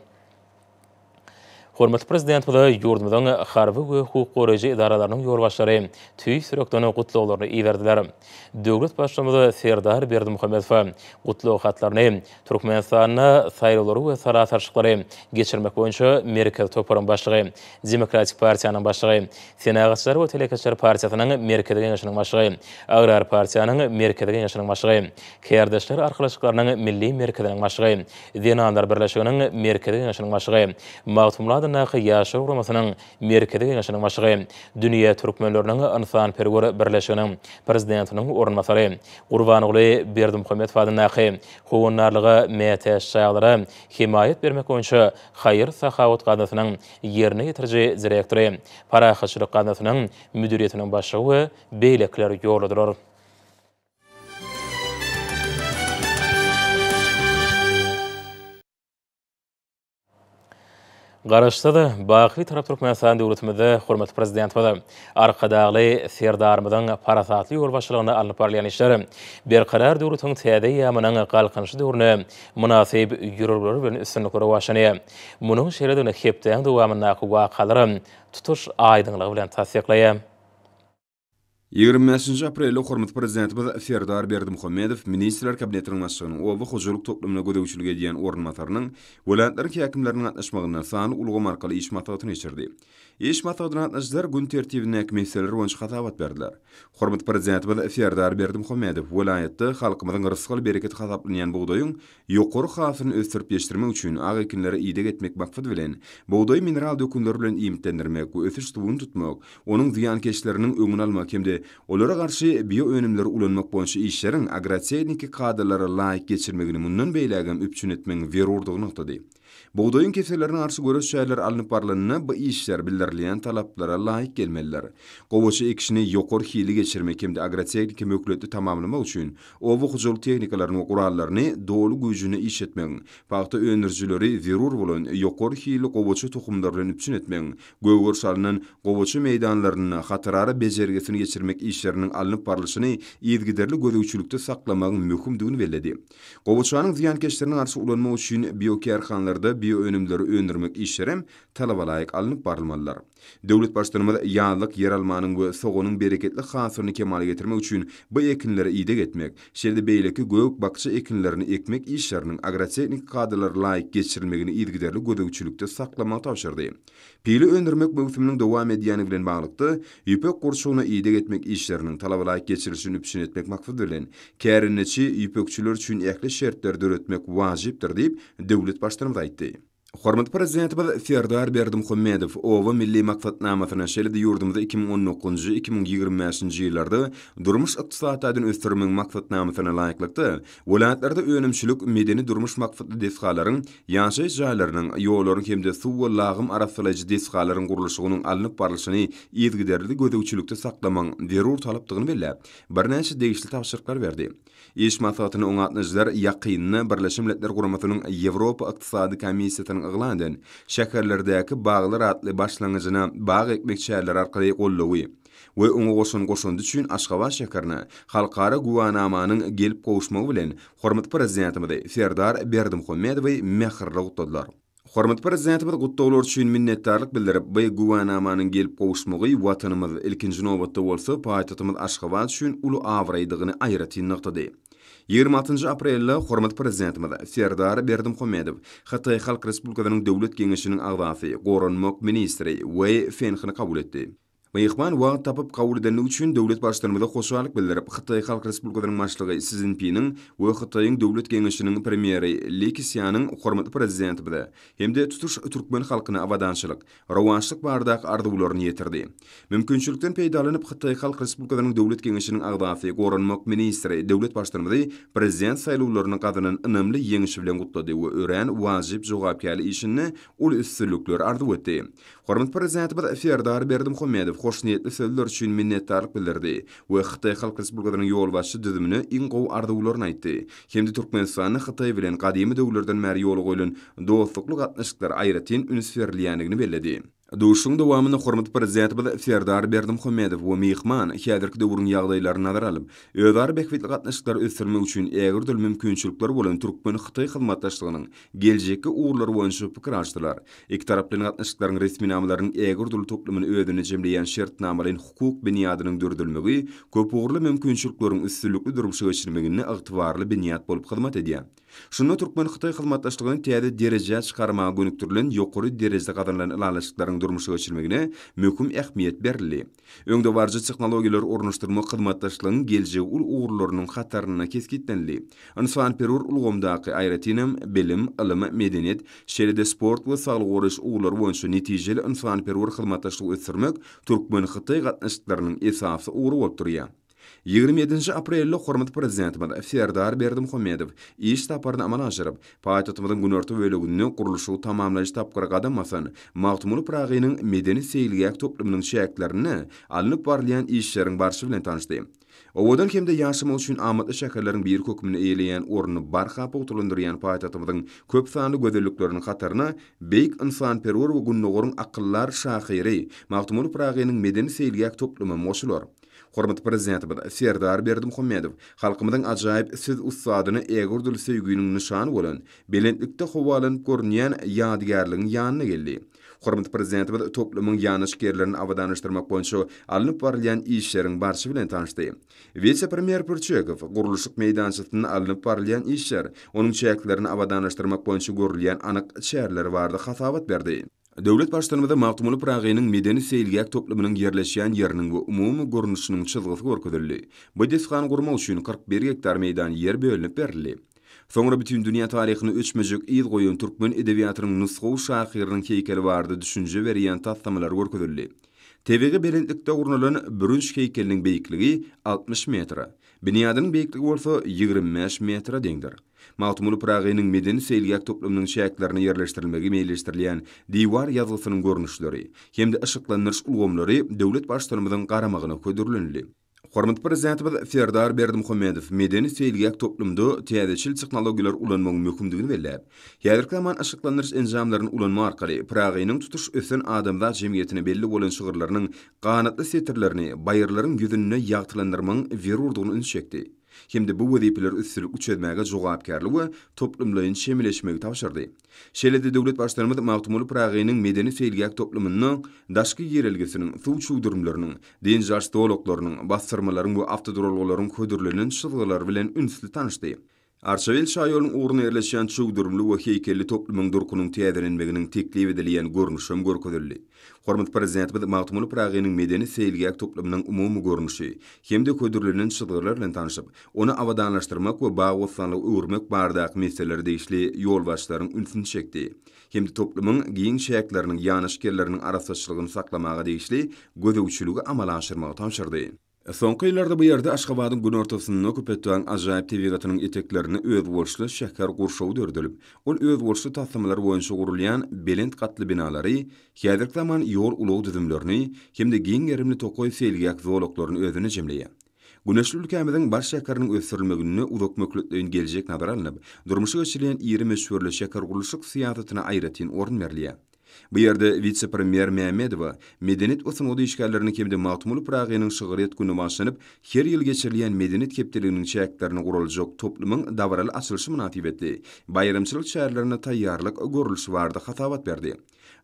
Speaker 1: Hormatly Prezidentimize ýurdumyzyň harby we hukuk goraýjy edaralarynyň ýolbaşçylary tüýs ýürekden gutlaglaryny iberdiler. Döwlet Baştutanymiz Serdar Berdimuhamedowa gutlag hatlaryny Türkmenistanda saýlawlary we sala salşyklary geçirmek boýunça Merkezi toparyň başlygy, Demokratik partiýanyň başlygy, Senagatçylar we telekeçiler partiýasynyň Merkezi Geňeşiniň başlygy, Agrar partiýanyň Merkezi Geňeşiniň başlygy, Kärdeşler arkalaşyklarynyň Milli merkeziniň başlygy, Zenanlar birleşiginiň Merkezi Geňeşiniň başlygy, Magtymguly adyndaky Ýaşlar guramasynyň Merkezi Geňeşiniň başlygy, Dünýä türkmenleriniň ynsanperwer birleşiginiň prezidentiniň orunbasary, Gurbanguly Berdimuhamedow adyndaky Howandarlyga mätäç çagalara hemaýat bermek boýunça haýyr-sahawat gaznasynyň ýerine ýetiriji direktory, Parahatçylyk gaznasynyň müdiriýetiniň başlygy we beýlekiler ýolladylar. Garaşsyz, baky Bitarap Türkmenistan döwletimizde hormatly Prezidentimiz Arkadagly Serdarymyzyň parasatly ýolbaşçylygynda alnyp barylýan işler Berkarar döwletiň täze eýýamynyň Galkynyşy döwrüne mynasyp ýörelgeler bilen üstünlikli rowaçlanýar. Munuň şeýledigini hepdäň dowamyndaky wakalaram tutuş aýdyňlygy bilen tassyklaýar. Ýigrimi
Speaker 2: bäşinji aprelde hormatly Prezidentimiz Serdar Berdimuhamedow Ministrler Kabinetiniň Başlygynyň oba hojalyk toplumyna gözegçilik edýän orunbasarynyň, welaýatlaryň häkimleriniň gatnaşmagynda sanly ulgam arkaly iş maslahatyny geçirdi. Iş maslahatyna gatnaşyjylar gün tertibindäki meseleler boýunça hasabat berdiler. Hormatly Prezidentimiz Serdar Berdimuhamedow welaýatda halkymyzyň rysgal bereketi hasaplanýan bugdaýyň Ýokary hasylyny ösdürip ýetişdirmek üçin ak ekinlere ideg etmek maksady bilen, bugdaýy mineral dökünler bilen iýmitlendirmek we ösüş suwuny tutmak, onuň zyýankeşleriniň öňüni almak hem-de olara garşy bioönümleri ulanmak boýunça işleriň agrotehniki kadalara laýyk geçirilmegini mundan beýlägem üpjün etmegiň zerurdygy nygtady. Bugdaýyň kesellerine garşy göreş çäreleri alnyp barylanda bu işler bildirilýän talaplara laýyk gelmelidir. Gowaça ekişini ýokary hilli geçirmek hem-de agrotehniki möhletli tamamlamak üçin oba hojalyk tehnikalaryny we gurallaryny doly güýjünde işletmegiň, pagta öndürijileri zerur bolan ýokary hilli gowaça tohumlary bilen üpjün etmegiň, gögeriş alnan gowaça meýdanlarynda hatarara bejergisini geçirmek işleriniň alnyp barlyşyny yzygiderli gözegçilikde saklamagyň möhümdigini belledi. Gowaçanyň zyýankeşlerine garşy ulanmak üçin biokärhanlarda bioönümleri öndürmek işlerem talabalaýyk alnyp barylmalydyr. Döwlet Baştutanymyz ýazlyk ýeralmanyň we soganyň bereketli hasylyny kemala getirmek üçin bu ekinlere ideg etmek, şeýle-de beýleki gök-bakja ekinlerini ekmek işleriniň agrotehniki kadalara laýyk geçirilmegini yzygiderli gözegçilikde saklamagy tabşyrdy. Pile öndürmek möwsüminiň dowam edýäni bilen baglykda, ýüpek gurçugyna ideg etmek işleriniň talabalaýyk geçirilişini üpjün etmek maksady bilen, kärendeçi ýüpekçiler üçin ähli şertleri döretmek wajypdyr diýip, döwlet Baştutanymyz aýtdy. Hormatly Prezidentimiz Serdar Berdimuhamedow Oba milli maksatnamasyny, şeýle-de ýurdumyzy iki müň on dokuzynjy, iki müň ýigrimi bäşinji ýyllarda durmuş-ykdysady taýdan ösdürmegiň maksatnamasyna laýyklykda, Welaýatlarda önümçilik, medeni-durmuş maksatly desgalaryň, ýaşaýyş jaýlarynyň, ýollaryň hem-de suw we lagym arassalaýjy desgalaryň gurluşygynyň alnyp barlyşyny yzygiderli gözegçilikde saklamagyň zerur talapdygyny belläp, birnäçe degişli tabşyryklar berdi. Iş maslahatyna oňa gatnaşyjylar ýakynda Birleşen Milletler Guramasynyň Ýewropa Ykdysady Komissiýasynyň yglan eden Şäherlerdäki baglar atly başlangyjyna bag ekmek çäreleri arkaly gollawy we oňa goşan goşandy üçin Aşgabat şäherine Halkara güwänamanyň gelip gowuşmagy bilen hormatly Prezidentimizi Serdar Berdimuhamedowy mähirli gutladylar. Hormatly Prezidentimiz gutlaglar üçin minnetdarlyk bildirip, bu güwänamanyň gelip gowuşmagy Watanymyz, ilkinji nobatda bolsa, paýtagtymyz Aşgabat üçin uly abraýdygyny aýratyn nygtady. Ýigrimi altynjy aprelde hormatly Prezidentimiz Serdar Berdimuhamedow Hytaý Halk Respublikasynyň Döwlet Geňeşiniň agzasy, goranmak ministri Weý Fenhini kabul etdi. Myhman wagt tapyp kabul edendigi üçin döwlet Baştutanymyza hoşallyk bildirip, Hytaý Halk Respublikasynyň Başlygy Si Szinpiniň we Hytaýyň Döwlet Geňeşiniň Premýeri Li Kisýanyň hormatly Prezidentimize hem-de tutuş türkmen halkyna abadançylyk, rowaçlyk baradaky arzuwlaryny ýetirdi. Mümkinçilikden peýdalanyp, Hytaý Halk Respublikasynyň Döwlet Geňeşiniň agzasy, goranmak ministri döwlet Baştutanymyzy Prezident saýlawlaryny gazanan ynamly ýeňişi bilen gutlady we örän wajyp jogapkärli işinde uly üstünlikler arzuw etdi. Hormatly Prezidentimiz Serdar Berdimuhamedow hoşniýetli sözler üçin minnetdarlyk bildirdi we Hytaý Halk Respublikasynyň ýolbaşçy düzümine iň gowy arzuwlaryny aýtdy hem-de Türkmenistanda Hytaý bilen gadymy döwürlerden bäri ýola goýlan dostlukly gatnaşyklara aýratyn üns berilýändigini belledi. Duşuşygyň dowamynda hormatly Prezidentimiz Serdar Berdimuhamedow we myhman häzirki döwrüň ýagdaýlaryny nazara alyp, özara bähbitli gatnaşyklary ösdürmek üçin ägirt uly mümkinçilikler bolan türkmen-hytaý hyzmatdaşlygynyň geljekki ugurlar boýunça pikir alşdylar. Ikitaraplaýyn gatnaşyklaryň resminamalarynyň ägirdürli toplumyny özünde jemleýän şertnamalaýyn hukuk binýadynyň döredilmegi köpugurly mümkinçilikleriň üstünlikli durmuşa geçirilmeginde ygtybarly binýat bolup hyzmat edýär. Şunda türkmen-hytaý hyzmatdaşlygyny täze derejä çykarmaga gönükdirilen ýokary derejede gazanylan ylalaşyklaryň durmuşa geçirilmegine möhüm ähmiýet berildi. Öňdebaryjy tehnologiýalary ornaşdyrmak hyzmatdaşlygyň geljegi uly ugurlarynyň hatarynda kesgitlenildi. Ynsanperwer ulgamdaky, aýratyn hem, bilim, ylym, medeniýet, şeýle-de sport we saglygy goraýyş ugurlary boýunça netijeli ynsanperwer hyzmatdaşlygy ösdürmek türkmen-hytaý gatnaşyklarynyň esasy ugry bolup durýar. Ýigrimi ýedinji aprelde hormatly Prezidentimiz Serdar Berdimuhamedow iş saparyny amala aşyryp, paýtagtymyzyň günorta böleginde gurluşygy tamamlaýyş tapgyra gadam basan Magtymguly Pyragynyň medeni-seýilgäh toplumynyň çäklerinde alnyp barylýan işleriň barşy bilen tanyşdy. Owadan hem-de ýaşamak üçin amatly şäherleriň biri hökmünde eýeleýän ornuny barha pugtalandyrýan paýtagtymyzyň köp sanly gözellikleriniň hataryna beýik ynsanperwer we Gündogaryň akyldar şahyry Magtymguly Pyragynyň medeni-seýilgäh toplumam goşular. Hormatly Prezidentimiz Serdar Berdimuhamedow halkymyzyň ajaýyp söz ussadyny ägördül söýgüniň nyşany bolan belentlikde howalanyp görünýän ýadygärligiň ýanyna geldi. Hormatly Prezidentimiz toplumyň ýanaşgärlerini abadanlaşdyrmak boýunça alnyp barylýan işleriň barşy bilen tanyşdy. Wise-premýer Pürçekow gurluşyk meýdançasynda alnyp barylýan işler, onuň çäklerini abadanlaşdyrmak boýunça görülýän anyk çäreler barada hasabat berdi. Döwlet Baştutanymyza Magtymguly Pyragynyň medeni-seýilgäh toplumynyň ýerleşýän ýeriniň we umumy görnüşiniň çyzgysy görkezildi. Bu desgany gurmak üçin kyrk bir gektar meýdan ýer bölünip berildi. Soňra bütindünýä taryhyna öçmejek yz goýan türkmen edebiýatynyň nusgawy şahyrynyň heýkeli barada düşünje berýän taslamalar görkezildi. Tebigy belentlikde gurnalan bürünç heýkeliniň beýikligi altmyş metre, binýadynyň beýikligi bolsa ýigrimi bäş metre deňdir. Magtymguly Pyragynyň medeni seýilgäh toplumynyň çäklerine ýerleşdirilmegi meýilleşdirilýän diwar ýazgysynyň görnüşleri hem-de yşyklandyryş ulgamlary döwlet Baştutanymyzyň garamagyna hödürlenildi. Hormatly Prezidentimiz Serdar Berdimuhamedow medeni seýilgäh toplumynda täzeçil tehnologiýalary ulanmagyň möhümdigini belläp, häzirki zaman yşyklandyryş enjamlaryny ulanma arkaly Pyragynyň tutuş ösen adamzat jemgyýetine belli bolan şygyrlarynyň ganatly setirlerini baýyrlaryň ýüzünde ýagtylandyrmagyň zerurdygyna ünsi çekdi. hem-de bu wezipeleri üstünlikli çözmäge jogapkärli we toplumlaýyn çemeleşmegi tabşyrdy. Şeýle-de döwlet Baştutanymyz Magtymguly Pyragynyň medeni-seýilgäh toplumynda daşky girelgesiniň, suw çuwdurymlarynyň, dynç alyş zolaklarynyň, basdyrmalaryň we awtoduralgalaryň hödürlenen çyzgylary bilen ünsli tanyşdy. Arçabil şaýolunyň ugruna ýerleşýän çuwdurymly we heýkelli toplumyň durkunyň täzelenmeginiň teklip edilýän görnüşi hem görkezildi. Hormatly Prezidentimiz Magtymguly Pyragynyň medeni-seýilgäh toplumynyň umumy görnüşi hem-de hödürlenen çyzgylar bilen tanşyp, ony abadanlaşdyrmak we bagy-bossanlyga öwürmek baradaky meseleler degişli ýolbaşçylaryň ünsüni çekdi hem-de toplumyň giň çäkleriniň ýanaşyk ýerleriniň arassaçylygyny saklamaga degişli gözegçiligi amala aşyrmagy tabşyrdy. Soňky ýyllarda bu ýerde Aşgabadyň günortasynda Köpetdagyň ajaýyp tebigatynyň eteklerinde özboluşly şäher gurşawy döredilip, ol özboluşly taslamalar boýunça gurulýan belent gatly binalary, häzirki zaman ýol-ulag düzümlerini hem-de giň gerimli tokaý seýilgäh zolaklaryny özünde jemleýär. Güneşli ülkämiziň baş şäheriniň ösdürilmeginde uzak möhletleýin geljek nazara alnyp, durmuşa geçirilýän iri möçberli şähergurluşyk syýasatyna aýratyn orun berilýär. Bu ýerde wise-premýer Mämmedowa medeniýet we sungat işgärleriniň hem-de Magtymguly Pyragynyň şygryýet güni başlanyp, her ýyl geçirilýän Medeniýet hepdeliginiň çäklerinde guraljak toplumyň dabaraly açylyşy mynasybetli baýramçylyk çärelerine taýýarlyk görlüşi barada hasabat berdi.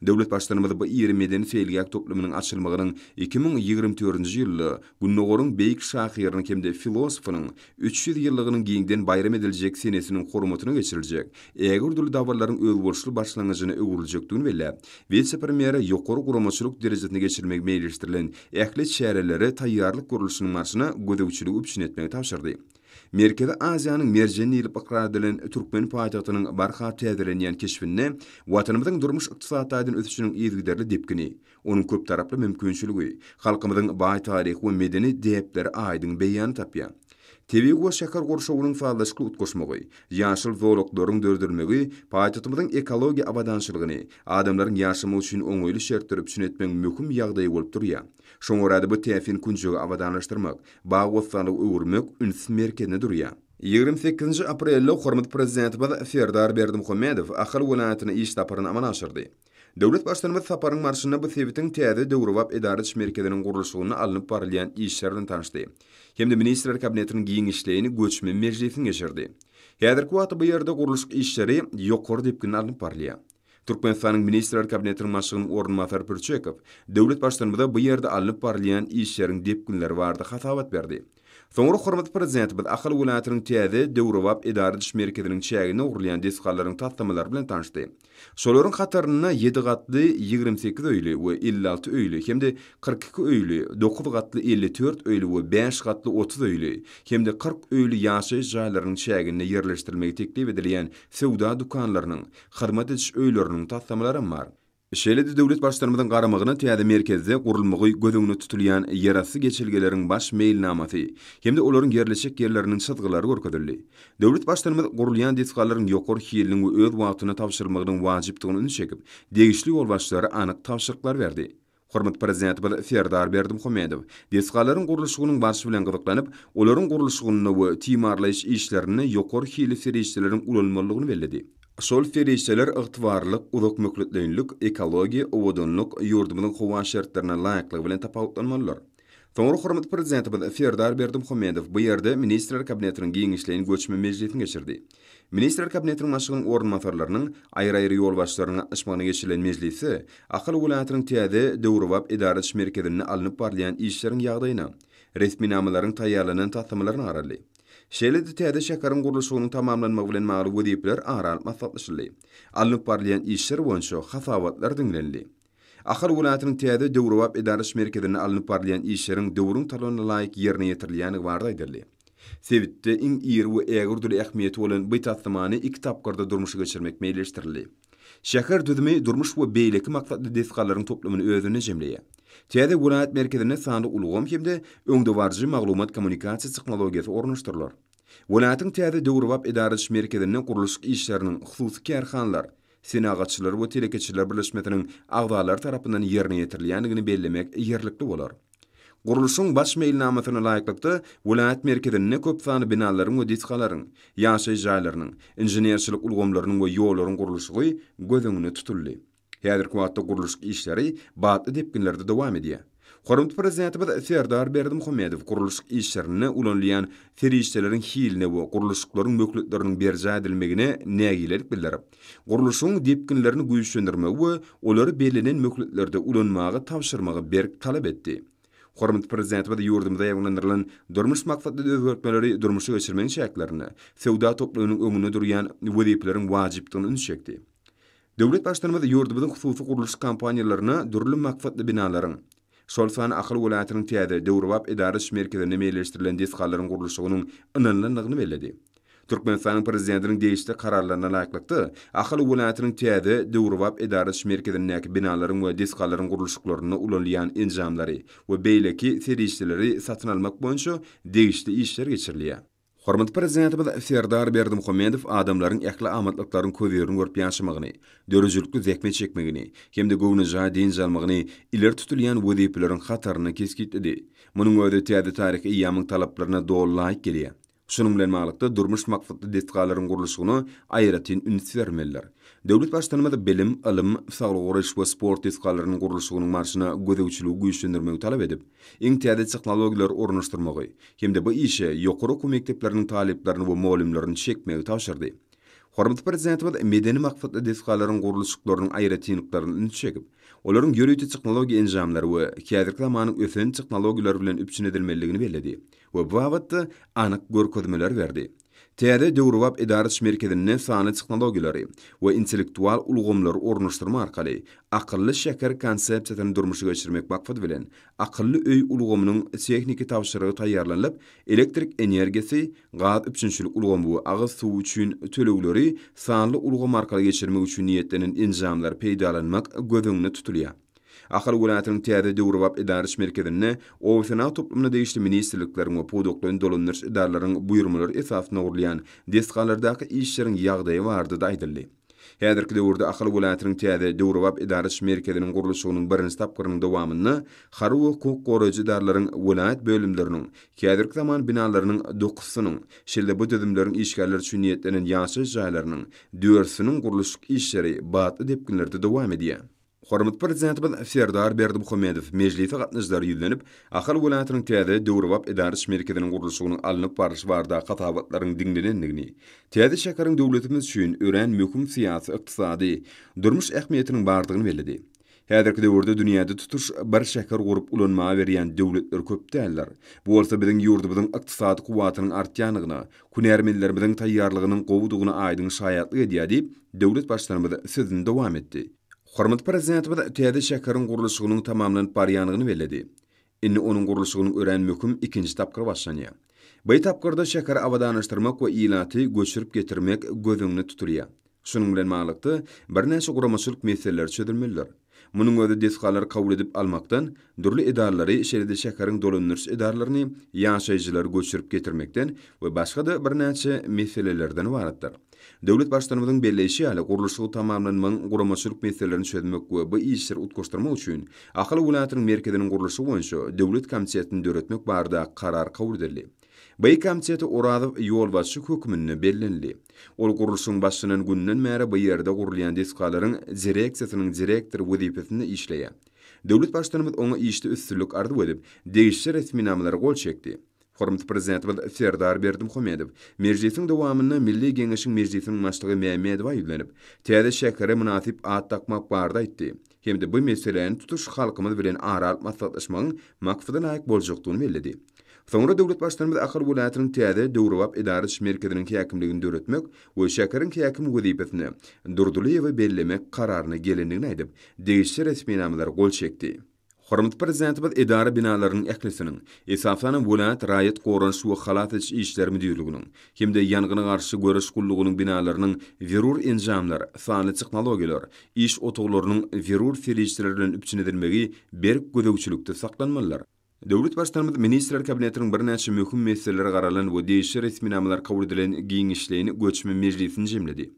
Speaker 2: Döwlet Baştutanymyz bu iri medeni-seýilgäh toplumynyň açylmagynyň iki müň ýigrimi dördünji ýylda Gündogaryň beýik şahyrynyň hem-de filosofynyň Üç ýüz ýyllygynyň giňden baýram ediljek senesiniň hormatyna geçiriljek ägirdürli dabaralylaryň özboluşly başlangyjyna öwrüljekdigini belläp, wise-premýere ýokary guramaçylyk derejesinde geçirilmegi meýilleşdirilen ähli çärelere taýýarlyk gurluşynyň barşyna gözegçiligi üpjün etmegi tabşyrdy. Merkezi Aziýanyň merjeni diýlip ykrar edilen türkmen paýtagtynyň barha täzelenýän keşbinde Watanymyzyň durmuş-ykdysady taýdan ösüşiniň yzygiderli depgini, Onuň köptaraply mümkinçiligi, halkymyzyň baý taryhy we medeni däpleri aýdyň beýan tapýar. Tebigy we şäher gurşawynyň sazlaşykly utgaşmagy, ýaşyl zolaklaryň döredilmegi paýtagtymyzyň ekologiýa abadançylygyny, adamlaryň ýaşamagy üçin oňaýly şertleri üpjün etmegiň möhüm ýagdaýy bolup durýar. Şoňa görä-de, bu täsin künjegi abadanlaşdyrmak, bag-bossanlyga öwürmek üns merkezinde durýar. Ýigrimi sekizinji aprelde hormatly Prezidentimiz Serdar Berdimuhamedow Ahal welaýatyna iş saparyny amala aşyrdy. Döwlet Baştutanymyz saparyň barşynda bu sebitiň täze döwrebap edara-iş merkeziniň gurluşygynda alnyp barylýan işler bilen tanyşdy hem-de Ministrler Kabinetiniň giňişleýin göçme mejlisini geçirdi. Häzirki wagtda bu ýerde gurluşyk işleri ýokary depginde alnyp barylýar. Türkmenistanyň Ministrler Kabinetiniň başlygynyň orunbasary Pürçekow döwlet Baştutanymyza bu ýerde alnyp barylýan işleriň depginleri barada hasabat berdi. Soňra hormatly Prezidentimiz Ahal welaýatynyň täze döwrebap edara-iş merkeziniň çäginde gurulýan desgalaryň taslamalary bilen tanyşdy Şolaryň hatarynda ýedi gatly ýigrimi sekiz öýli we elli alty öýli hem-de kyrk iki öýli, dokuz gatly elli dört öýli we bäş gatly otuz öýli hem-de kyrk öýli ýaşaýyş jaýlarynyň çäginde ýerleşdirilmegi teklip edilýän söwda dükanlarynyň, hyzmat ediş öýleriniň taslamalaram bar. Şeýle-de döwlet Baştutanymyzyň garamagyna täze merkezde gurulmagy göz öňünde tutulýan ýerasty geçelgeleriň baş meýilnamasy hem-de olaryň ýerleşjek ýerleriniň çyzgylary görkezildi. Döwlet Baştutanymyz gurulýan desgalaryň ýokary hiliniň we öz wagtynda tabşyrylmagynyň wajypdygyna ünsi çekip, degişli ýolbaşçylara anyk tabşyryklar berdi. Hormatly Prezidentimiz Serdar Berdimuhamedow desgalaryň gurluşygynyň barşy bilen gyzyklanyp, olaryň gurluşygynda we timarlaýyş işlerinde ýokary hilli serişdeleriň ulanylmalydygyny belledi. Şol serişdeler ygtybarlylyk, uzakmöhletleýinlik, ekologiýa, owadanlyk, ýurdumyzyň howa şertlerine laýyklygy bilen tapawutlanmalydyr. Soňra hormatly Prezidentimiz Serdar Berdimuhamedow bu ýerde Ministrler Kabinetiniň giňişleýin göçme mejlisini geçirdi. Ministrler Kabinetiniň Başlygynyň orunbasarlarynyň, aýry-aýry ýolbaşçylaryň gatnaşmagynda geçirilen mejlisde Ahal welaýatynyň täze, döwrebap edara ediş merkezinde alnyp barylýan işleriň ýagdaýyna, resminamalaryň taýýarlanan taslamalaryna garaldy. Şeýle-de täze şäheriň gurluşygynyň tamamlanmagy bilen bagly wezipeler ara alyp maslahatlaşyldy. Alnyp barylýan işler boýunça hasabatlar diňlenildi. Ahal welaýatynyň täze döwrebap edaraş merkezinde alnyp barylýan işleriň döwrüň talabyna laýyk ýerine ýetirilýändigi barada aýdyldy. Sebitde iň iri we ägirt uly ähmiýeti bolan bu taslamany iki tapgyrda durmuşa geçirmek meýilleşdirildi. Şäher düzümi durmuş we beýleki maksatly desgalaryň toplumyny özünde jemleýär. Täze welaýat merkezinde sanly ulgam hem-de öňdebaryjy maglumat-kommunikasiýa tehnologiýasy ornaşdyrylar. Welaýatyň täze döwrebap edaraş merkezinde gurluşyk işleriniň, hususy kärhanalar, Senagatçylar we telekeçiler birleşmesiniň agzalary tarapyndan ýerine ýetirilýändigini bellemek ýerlikli bolar. Gurluşygyň baş meýilnamasyna laýyklykda, welaýat merkezinde köp sanly binalaryň we desgalaryň, ýaşaýyş jaýlarynyň, inženerçilik ulgamlarynyň we ýollaryň gurluşygy göz öňünde tutuldy. Häzirki wagtda gurluşyk işleri batly depginlerde dowam edýär. Hormatly Prezidentimiz Serdar Berdimuhamedow gurluşyk işlerinde ulanylýan serişdeleriň hiline we gurluşyklaryň möhletleriniň berjaý edilmegine nägilelik bildirip, gurluşygyň depginlerini güýçlendirmegi we olary bellenen möhletlerde ulanmagy tabşyrmagy berk talap etdi. Hormatly Prezidentimiz ýurdumyzda ýaýbaňlandyrylan durmuş maksatly özgertmeleri durmuşa geçirmegiň çäklerinde söwda toplumynyň öňünde durýan wezipeleriň wajypdygyna ünsi çekdi. Döwlet Baştutanymyz ýurdumyzyň hususy gurluşyk kompaniýalaryna dürli maksatly binalaryň, şol sanda Ahal welaýatynyň täze, döwrebap edara-iş merkezinde meýilleşdirilen desgalaryň gurluşygynyň ynanylandygyny belledi. Türkmenistanyň Prezidentiniň degişli Kararlaryna laýyklykda, Ahal welaýatynyň täze, döwrebap edara-iş merkezindäki binalaryň we desgalaryň gurluşyklarynda ulanylýan enjamlary we beýleki serişdeleri satyn almak boýunça degişli işler geçirilýär. Hormatly Prezidentimiz Serdar Berdimuhamedow adamlaryň ähli amatlyklaryň köz-ýeriniň görüp ýaşamagyny, döredijilikli zähmet çekmegini hem-de göwnejaý dynç almagyny ileri tutulýan wezipeleriň hatarynda kesgitledi. Munuň özi täze taryhy eýýamyň talaplaryna doly laýyk gelýär. Şunuň bilen baglylykda, durmuş maksatly desgalaryň gurluşygyna aýratyn üns bermelidir. Döwlet Baştutanymyz bilim, ylym, saglygy goraýyş we sport desgalarynyň gurluşygynyň barşyna gözegçiligi güýçlendirmegi talap edip, iň täze tehnologiýalary ornaşdyrmagy hem-de bu işe ýokary okuw mekdepleriniň talyplaryny we mugallymlaryny çekmegi tabşyrdy. Hormatly Prezidentimiz medeni maksatly desgalaryň gurluşyklarynyň aýratynlyklaryna ünsi çekip, olaryň ýörite tehnologiýa enjamlary we häzirki zamanyň ösen tehnologiýalary bilen üpjün edilmelidigini belledi we bu babatda anyk görkezmeler berdi. Täze döwrebap edaraç merkezinde sanly tehnologiýalary we intellektual ulgamlary ornaşdyrmak arkaly Akylly şäher konsepsiýasyny durmuşa geçirmek maksady bilen, Akylly öý ulgamynyň tehniki tabşyrygy taýýarlanylyp, elektrik energiýasy, gaz üpjünçilik ulgamy we agyz suwy üçin tölegleri sanly ulgam arkaly geçirmek üçin niýetlenen enjamlary peýdalanmak göz öňünde tutulýar. Ahal welaýatynyň täze döwrebap edäriş merkezinde obasenagat toplumyna degişli ministrlikleriň we pudaklaýyn dolandyryş edaralaryň buýurmalary esasynda gurulýan desgalardaky işleriň ýagdaýy barada-da aýdyldy. Häzirki döwürde Ahal welaýatynyň täze döwrebap edäriş merkeziniň gurluşygynyň birinji tapgyrynyň dowamynda harby we hukuk goraýjy edaralaryň welaýat bölümleriniň häzirki zaman binalarynyň dokusynyň, şeýle-de bu düzümleriň işgärleri üçin niýetlenen ýaşaýyş jaýlarynyň dördsüniň gurluşyk işleri batly depginlerde dowam edýär. Hormatly Prezidentimiz Serdar Berdimuhamedow mejlise gatnaşyjylara ýüzlenip, Ahal welaýatynyň täze, döwrebap edara iş merkeziniň gurluşygynyň alnyp barlyşy barada hasabatlaryň diňlenendigini, täze şäheriň döwletimiz üçin örän möhüm syýasy, ykdysady, durmuş ähmiýetiniň bardygyny belledi. Häzirki döwürde dünýäde tutuş bir şäher gurup ulanmaga berýän döwletler köp däldir. Bu bolsa biziň ýurdumyzyň ykdysady kuwwatynyň artýandygyna, Hünärmenlerimiziň taýýarlygynyň gowudygyna aýdyň şaýatlyk edýär diýip, döwlet Baştutanymyz sözüni dowam etdi. Hormatly Prezidentimiz täze şäheriň gurluşygynyň tamamlanyp barýandygyny belledi. Indi onuň gurluşygynyň örän möhüm ikinji tapgyry başlanýar. By tapgyrda şäheri abadanlaşdyrmak we ilaty göçürip getirmek göz öňünde tutulýar. Şunuň bilen baglylykda, birnäçe guramaçylyk meseleleri çözülmelidir. Munuň özi desgalary kabul edip almakdan, dürli edaralary, şeýle-de şäheriň dolandyryş edaralaryny, ýaşaýjylary göçürip getirmekden we başga-da birnäçe meselelerden ybaratdyr. Döwlet Baştutanymyzyň belleýşi ýaly, gurluşygy tamamlanmagyň guramaçylyk meselelerini çözmek we bu işleri utgaşdyrmak üçin Ahal welaýatynyň merkeziniň gurluşygy boýunça döwlet komitetini döretmek barada karar kabul edildi. Beýik Gamçet Orazow ýolbaşçy hökmünde bellenildi. Ol gurluşygyň başlanan gününden bäri bu ýerde gurulýan desgalaryň direksiýasynyň direktory wezipesinde işleýär. Döwlet Baştutanymyz oňa işde üstünlik arzuw edip, degişli resminamalara gol çekdi. Hormatly Prezidentimiz Serdar Berdimuhamedow mejlisiň dowamynda Milli Geňeşiň Mejlisiniň Başlygy Mämmedowa ýüzlenip, täze şähere mynasyp at dakmak barada aýtdy. hem-de bu meseläni tutuş halkymyz bilen ara alyp maslahatlaşmagyň maksada laýyk boljakdygyny belledi. Soňra döwlet Baştutanymyz Ahal welaýatynyň täze döwrebap edara ediş merkeziniň häkimligini döretmek we şäheriň häkimi wezipesine Durdylyýewi bellemek kararyna gelendigini aýdyp, degişli resminamalara gol çekdi. Hormatly Prezidentimiz edara binalarynyň ählisiniň, esasanam welaýat raýat goranyş we halas ediş işleri müdirliginiň, hem-de Ýangyna garşy göreş gullugynyň binalarynyň zerur enjamlar, sanly tehnologiýalar, iş otaglarynyň zerur serişdeler bilen üpjün edilmegi berk gözegçilikde saklanmalydyr. Döwlet Baştutanymyz Ministrler Kabinetiniň birnäçe möhüm meseleleri garalan we degişli resminamalar kabul edilen giňişleýin göçme mejlisini jemledi.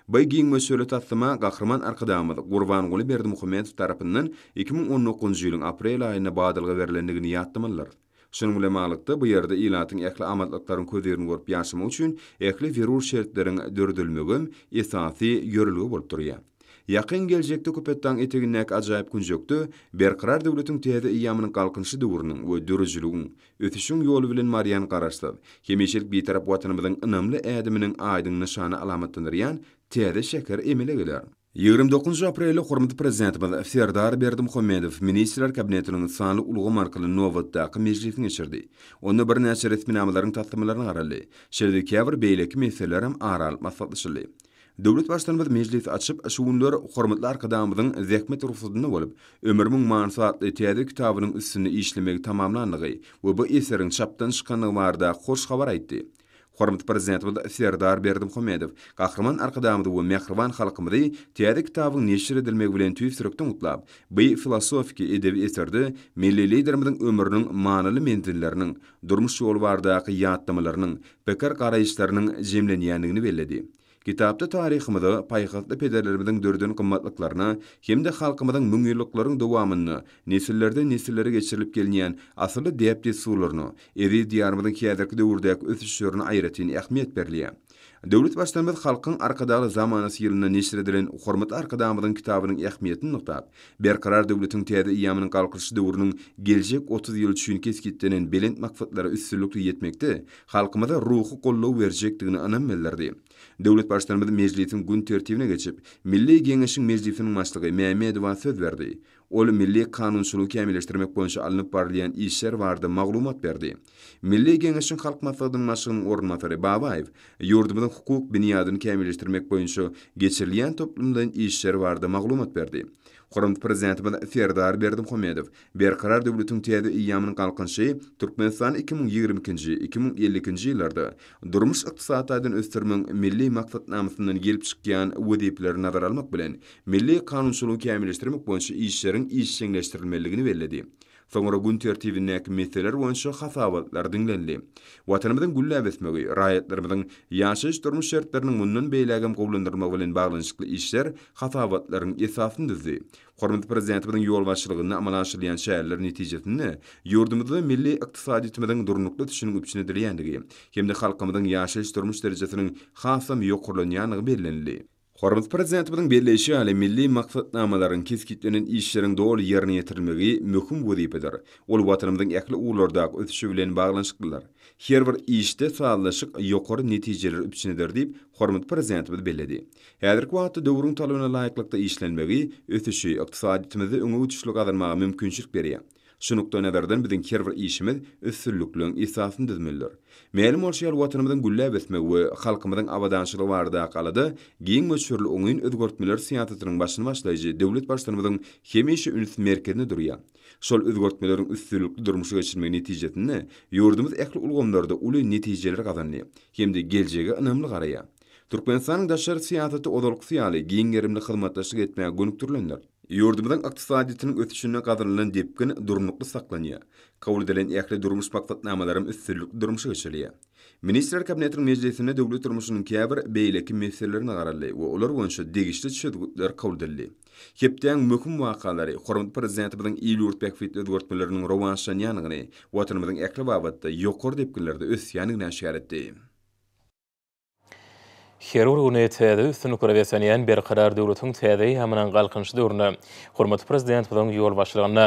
Speaker 2: By giň möçberli taslama Gahryman Arkadagymyz Gurbanguly Berdimuhamedow tarapyndan iki müň on dokuzynjy ýylyň aprel aýynda badalga berlendigini ýatlamalydyrys. Şunuň bilen baglylykda, bu ýerde ilatyň ähli amatlyklaryň közirini görüp ýaşamak üçin ähli zerur şertleriň döredilmegem esasy ýörelge bolup durýar. Ýakyn geljekde Köpetdagyň etegindäki ajaýyp künjekde Berkarar döwletiň täze eýýamynyň Galkynyşy döwrüniň we döredijiligiň, ösüşiň ýoly bilen barýan Garaşsyz, hemişelik Bitarap Watanymyzyň ynamly ädiminiň aýdyň nyşany alamatlandyrýan täze şäher emele geler. Ýigrimi dokuzynjy aprelde hormatly Prezidentimiz Serdar Berdimuhamedow Ministrler Kabinetiniň sanly ulgam arkaly nobatdaky mejlisini geçirdi. Onda birnäçe resminamalaryň taslamalaryna garaldy. Şeýle-de käbir beýleki meselelerem ara alyp maslahatlaşyldy. Döwlet Baştutanymyz mejlisi açyp, şu günler hormatly Arkadagymyzyň zähmet rugsatynda bolup, Ömrümiň manysy atly täze kitabynyň üstünde işlemegi tamamlandygy we bu eseriň çapdan çykandygy barada hoş habar aýtdy. Hormatly Prezidentimiz Serdar Berdimuhamedow Gahryman Arkadagymyzy we mähriban halkymyzy täze kitabyň neşir edilmegi bilen tüýs ýürekden gutlap, bi filosofiki edebi eserde milli Liderimiziň ömrüniň manyly menzilleriniň, durmuş ýoly baradaky ýatlamalarynyň, pikir-garaýyşlarynyň jemlenýändigini belledi. Kitapda taryhymyza, paýhasly pederlerimiziň döreden gymmatlyklaryna hem-de halkymyzyň müňýyllyklaryň dowamynda nesillerden nesillere geçirilip gelinýän asylly däp-dessurlaryna, eziz Diýarymyzyň häzirki döwürdäki ösüşlerine aýratyn ähmiýet berilýär. Döwlet Baştutanymyz Halkyň Arkadagly zamanasy ýylynda neşir edilen Hormatly Arkadagymyzyň kitabynyň ähmiýetini nygtap, Berkarar döwletiň täze eýýamynyň Galkynyşy döwrüniň geljek otuz ýyly üçin kesgitlenen belent maksatlara üstünlikli ýetmekde halkymyza ruhy goldaw berjekdigine ynam bildirdi. Döwlet Baştutanymyz mejlisiň gün tertibine geçip, Milli Geňeşiň Mejlisiniň Başlygy Mämmedowa söz berdi. Ol milli kanunçylygy kämilleşdirmek boýunça alnyp barylýan işler barada maglumat berdi. Milli Geňeşiň Halk Maslahatynyň Başlygynyň orunbasary Babaýew ýurdumyzyň hukuk binýadyny kämilleşdirmek boýunça geçirilýän toplumlaýyn işler barada maglumat berdi. Hormatly Prezidentimiz Serdar Berdimuhamedow Berkarar döwletiň täze eýýamynyň Galkynyşy Türkmenistany iki müň ýigrimi ikinji, iki müň elli ikinji ýyllarda durmuş-ykdysady taýdan ösdürmegiň Milli maksatnamasyndan gelip çykýan wezipeleri nazara almak bilen, milli kanunçylygy kämilleşdirmek boýunça işleriň işjeňleşdirilmelidigini belledi. Soňra gün tertibindäki meseleler boýunça hasabatlar diňlenildi. Watanymyzyň gülläp ösmegi, raýatlarymyzyň ýaşaýyş-durmuş şertleriniň mundan beýlägem gowulandyrylmagy bilen baglanyşykly işler hasabatlaryň esasyny düzdi. Hormatly Prezidentimiziň ýolbaşçylygynda amala aşyrylýan çäreler netijesinde ýurdumyzda milli ykdysadyýetimiziň durnukly ösüşiniň üpjün edilýändigi hem-de halkymyzyň ýaşaýyş-durmuş derejesiniň hasam ýokarlanýandygy bellenildi. Hormatly Prezidentimiziň belleýşi ýaly, milli maksatnamalaryň, kesgitlenen işleriň doly ýerine ýetirilmegi möhüm wezipedir. Ol Watanymyzyň ähli ugurlardaky ösüşi bilen baglanyşyklydyr. Her bir işde sazlaşyk ýokary netijeleri üpjün eder diýip, hormatly Prezidentimiz belledi. Häzirki wagtda döwrüň talabyna laýyklykda işlenmegi, ösüşi, ykdysadyýetimizde öňe uçuşly gazanmaga mümkinçilik berýär. Şu nukdaýnazardan biziň her bir işimiz üstünlikligiň esasyny düzmelidir. Mälim bolşy ýaly Watanymyzyň gülläp ösmegi we halkymyzyň abadançylygy baradaky alada giň möçberli oňyn özgertmeler syýasatynyň başyny başlaýjy döwlet Baştutanymyzyň hemişe üns merkezinde durýar. Şol özgertmeleriň üstünlikli durmuşa geçirilmegi netijesinde ýurdumyz ähli ulgamlarda uly netijeleri gazandy hem-de geljege ynamly garaýar. Türkmenistanyň daşary syýasaty ozalkysy ýaly giň gerimli hyzmatdaşlyk etmäge gönükdirilendir. Ýurdumyzyň ykdysadyýetiniň ösüşinde gazanylan depgin durnukly saklanýar, kabul edilen ähli durmuş maksatnamalaram üstünlikli durmuşa geçirilýär. Ministrler Kabinetiniň mejlisinde döwlet durmuşynyň käbir beýleki meselelerine garaldy we olar boýunça degişli çözgütler kabul edildi. Hepdäň möhüm wakalary, hormatly Prezidentimiziň il-ýurt bähbitli özgertmeleriniň rowaçlanýandygyny, Watanymyzyň ähli babatda ýokary depginlerde ösýändigini aşgär etdi.
Speaker 1: Her bir güni täze üstünliklere beslenýän Berkarar döwletiň täze eýýamynyň Galkynyş döwründe hormatly Prezidentimiziň ýolbaşçylygynda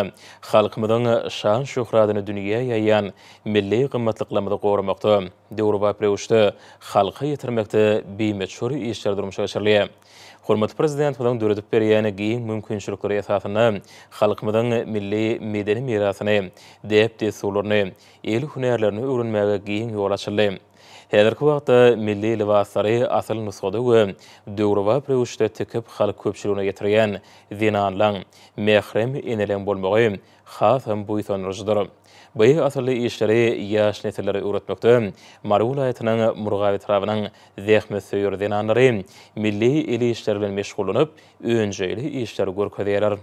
Speaker 1: halkymyzyň şan-şöhratyny dünýä ýaýýan milli gymmatlyklarymyzy goramakda, döwrebap röwüşde halka ýetirmekde bimöçber işler durmuşa geçirilýär. Hormatly Prezidentimiziň döredip berýän giň mümkinçilikleri esasynda halkymyzyň milli medeni mirasyny, däp-dessurlaryny, el hünärlerini öwrenmäge giň ýol açyldy. Häzirki wagtda milli lybaslary asyl nusgada we döwrebap röwüşde tikip halk köpçüligine ýetirýän zenanlaň, mährem eneleň bolmagy hasam buýsandyryjydyr. Bu asylly işleri ýaş nesillere öwretmekde Mary welaýatynyň Murgap etrabynyň zähmetsöýer zenanlary milli el işleri bilen meşgullanyp, önjeýli işleri görkezýärler.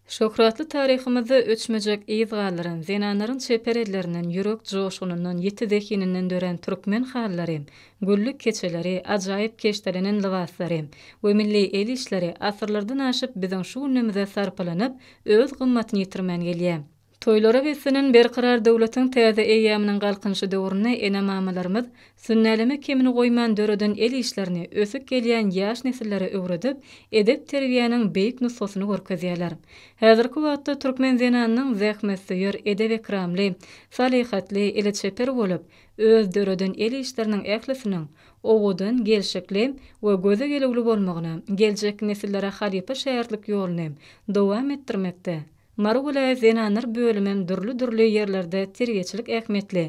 Speaker 3: Şöhratly taryhymyzda öçmejek yz galdyran, zenanlaryň çeper ellerinden, ýürek joşgunyndan, ýiti zehininden dörän türkmen halylary, güllük keçeleri, ajaýyp keşdelenen lybaslary we milli el işleri asyrlardan aşyp biziň şu günlemize sarpalanyp, öz gymmatyny ýitirmän gelýär. Toýlara beslenen Berkarar döwletiň täze eýýamynyň Galkynyşy döwründe ene-mamalarymyz sünnäleme kemini goýman döreden el işlerini ösüp gelýän ýaş nesillere öwredip, edep-terbiýäniň beýik nusgasyny görkezýärler. Häzirki wagtda türkmen zenanynyň zähmetsöýer, edep-ekramly, salyhatly, eli çeper bolup, öz döreden el işleriniň ählisiniň owadan, gelşikli we göze gelüwli bolmagyna, geljek nesillere halypa-şägirtlik ýoluny dowam etdirmekde Mary welaýat zenanlar bölümem dürli-dürli ýerlerde terbiýeçilik ähmiýetli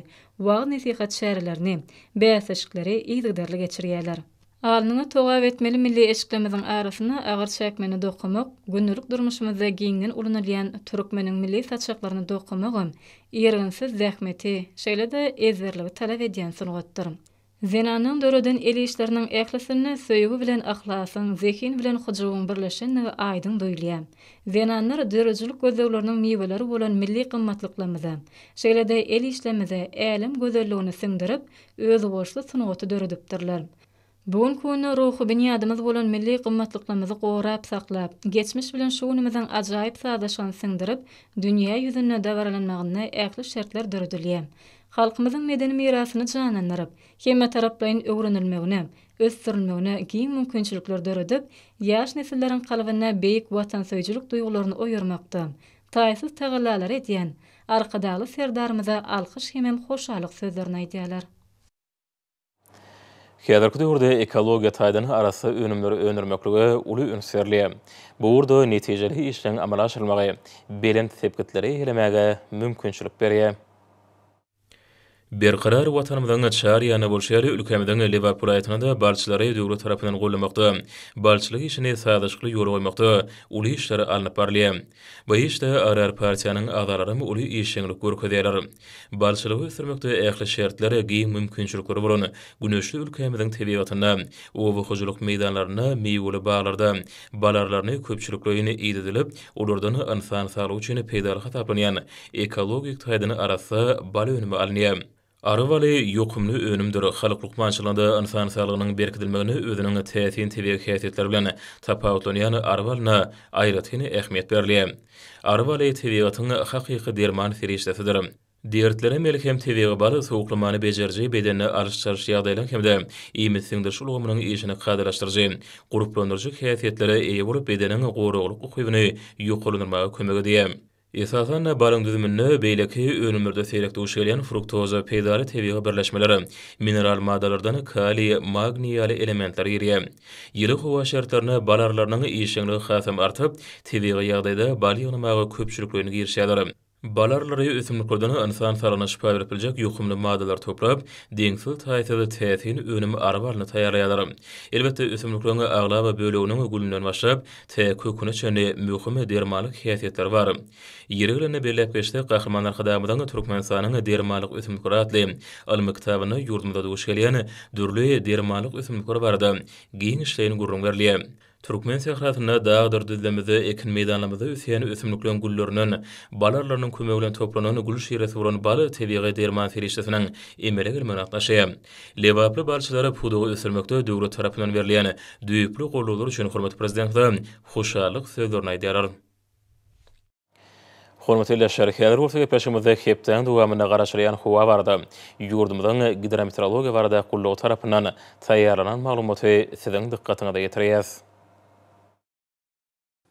Speaker 3: wagyz-nesihat çärelerini, bäsleşikleri yzygiderli geçirýärler. Alnyňy togap etmeli milli eşiklerimiziň arasyna agyr çäkmeni dokamak, gündelik durmuşymyzda giňden ulanylýan türkmeniň milli saçaklaryny dokamagam irginsiz zähmeti, şeýle-de ezberligi talap edýän sungatdyr. Zenanyň döreden el işleriniň ählisinde söýgi bilen yhlasyň, zehin bilen hyjuwyň birleşendigi aýdyň duýulýar. Zenanlar döredijilik gözlegleriniň miweleri bolan milli gymmatlyklarymyza, şeýle-de el işlerimize älem gözelligini siňdirip, özboluşly sungaty döredipdirler. Bu günki günde ruhy binýadymyz bolan milli gymmatlyklarymyzy gorap saklap, geçmiş bilen şu günümiziň ajaýyp sazlaşygyny siňdirip, dünýä ýüzünde dabaralanmagynda ähli şertler döredilýär. halkymyzyň medeni mirasyny janlandyryp, hemmetaraplaýyn öwrenilmegine, ösdürilmegine giň mümkinçilikler döredip, ýaş nesilleriň kalbynda beýik watansöýüjilik duýgularyny oýarmakda taýsyz tagallalary edýän Arkadagly Serdarymyza alkyş hemem hoşallyk sözlerini aýdýarlar.
Speaker 1: Häzirki döwürde ekologiýa taýdan arassa önümleri öndürmeklige uly üns berilýär. Bu ugurda netijeli işleriň amala aşyrylmagy belent sepgitleri eýelemäge mümkinçilik berýär. Berkarar Watanymyzyň çar ýanynda bolşy ýaly, ülkämiziň Lebap welaýatyna-da balçylary döwlet tarapyndan goldamakda, balçylyk işini sazlaşykly ýola goýmakda uly işler alnyp barylýar. Bu işde agrar partiýanyň agzalaram uly işjeňlik görkezýärler. Balçylygy ösdürmekde ähli şertler, giň mümkinçilikleri bolan güneşli ülkämiziň tebigatynda, oba hojalyk meýdanlarynda, miweli baglarda bal arlaryny köpçülikleýin idedilip, olardan ynsan saglygy üçin peýdaly hasaplanýan ekologik taýdan arassa bal önümi alynýar. Ary baly ýokumly önümdir. Halk lukmançylygynda ynsan saglygynyň berkidilmeginde özüniň täsin tebigy häsiýetleri bilen tapawutlanýan ary balyna aýratyn ähmiýet berilýär. Ary baly tebigatyň hakyky derman serişdesidir. Dertlere melhem tebigy bal sowuklamany bejeriji, bedende alyş-çalyş ýagdaýlaryň hem-de iýmit siňdiriş ulgamynyň işini kadalaşdyryjy, gurplandyryjy häsiýetlere eýe bolup, bedeniň goraglyk ukybyny ýokarlandyrmaga kömek edýär. Esasan-da, balyň düzüminde beýleki önümlerde seýrek duş gelýän fruktoza peýdaly tebigy birleşmeler, mineral maddalardan kaliý, magniý ýaly elementler girýär. Ýyly howa şertlerinde bal arylarynyň işjeňligi hasam artyp, tebigy ýagdaýda bal ýygnamaga köpçülikleýin girişýärler. Bal arylary ösümliklerden ynsan saglygyna şypa berip biljek ýokumly maddalary toplap, deňsiz-taýsyz täsin önüm ary balyny taýýarlaýarlar. Elbetde, ösümlikleriň aglaba böleginiň gülünden başlap, T köküne çenli möhüm dermanlyk häsiýetleri bar. Ýeri gelende belläp geçsek, Gahryman Arkadagymyzyň Türkmenistanyň dermanlyk ösümlikleri atly ylmy kitabynda ýurdumyzda duş gelýän dürli dermanlyk ösümlikler barada giňişleýin gürrüň berilýär. Türkmen sährasynda, dagdyr düzlemizde, ekin meýdanlarymyzda ösýän ösümlikleň güllerinden, bal arlarynyň kömegi bilen toplanan gül şiresi bolan bal tebigy derman serişdesiniň emele gelmegine gatnaşýar. Lebaply balçylara pudagy ösdürmekde döwlet tarapyndan berilýän düýpli goldawlar üçin hormatly Prezidentimize hoşallyk sözlerini aýdýarlar. Hormatly ildeşler, häzir bolsa gepleşigimizde hepdäniň dowamynda garaşylýan howa barada, ýurdumyzyň Gidrometeorologiýa barada gullugy tarapyndan taýýarlanan maglumaty siziň dykgatyňyza ýetirýäs.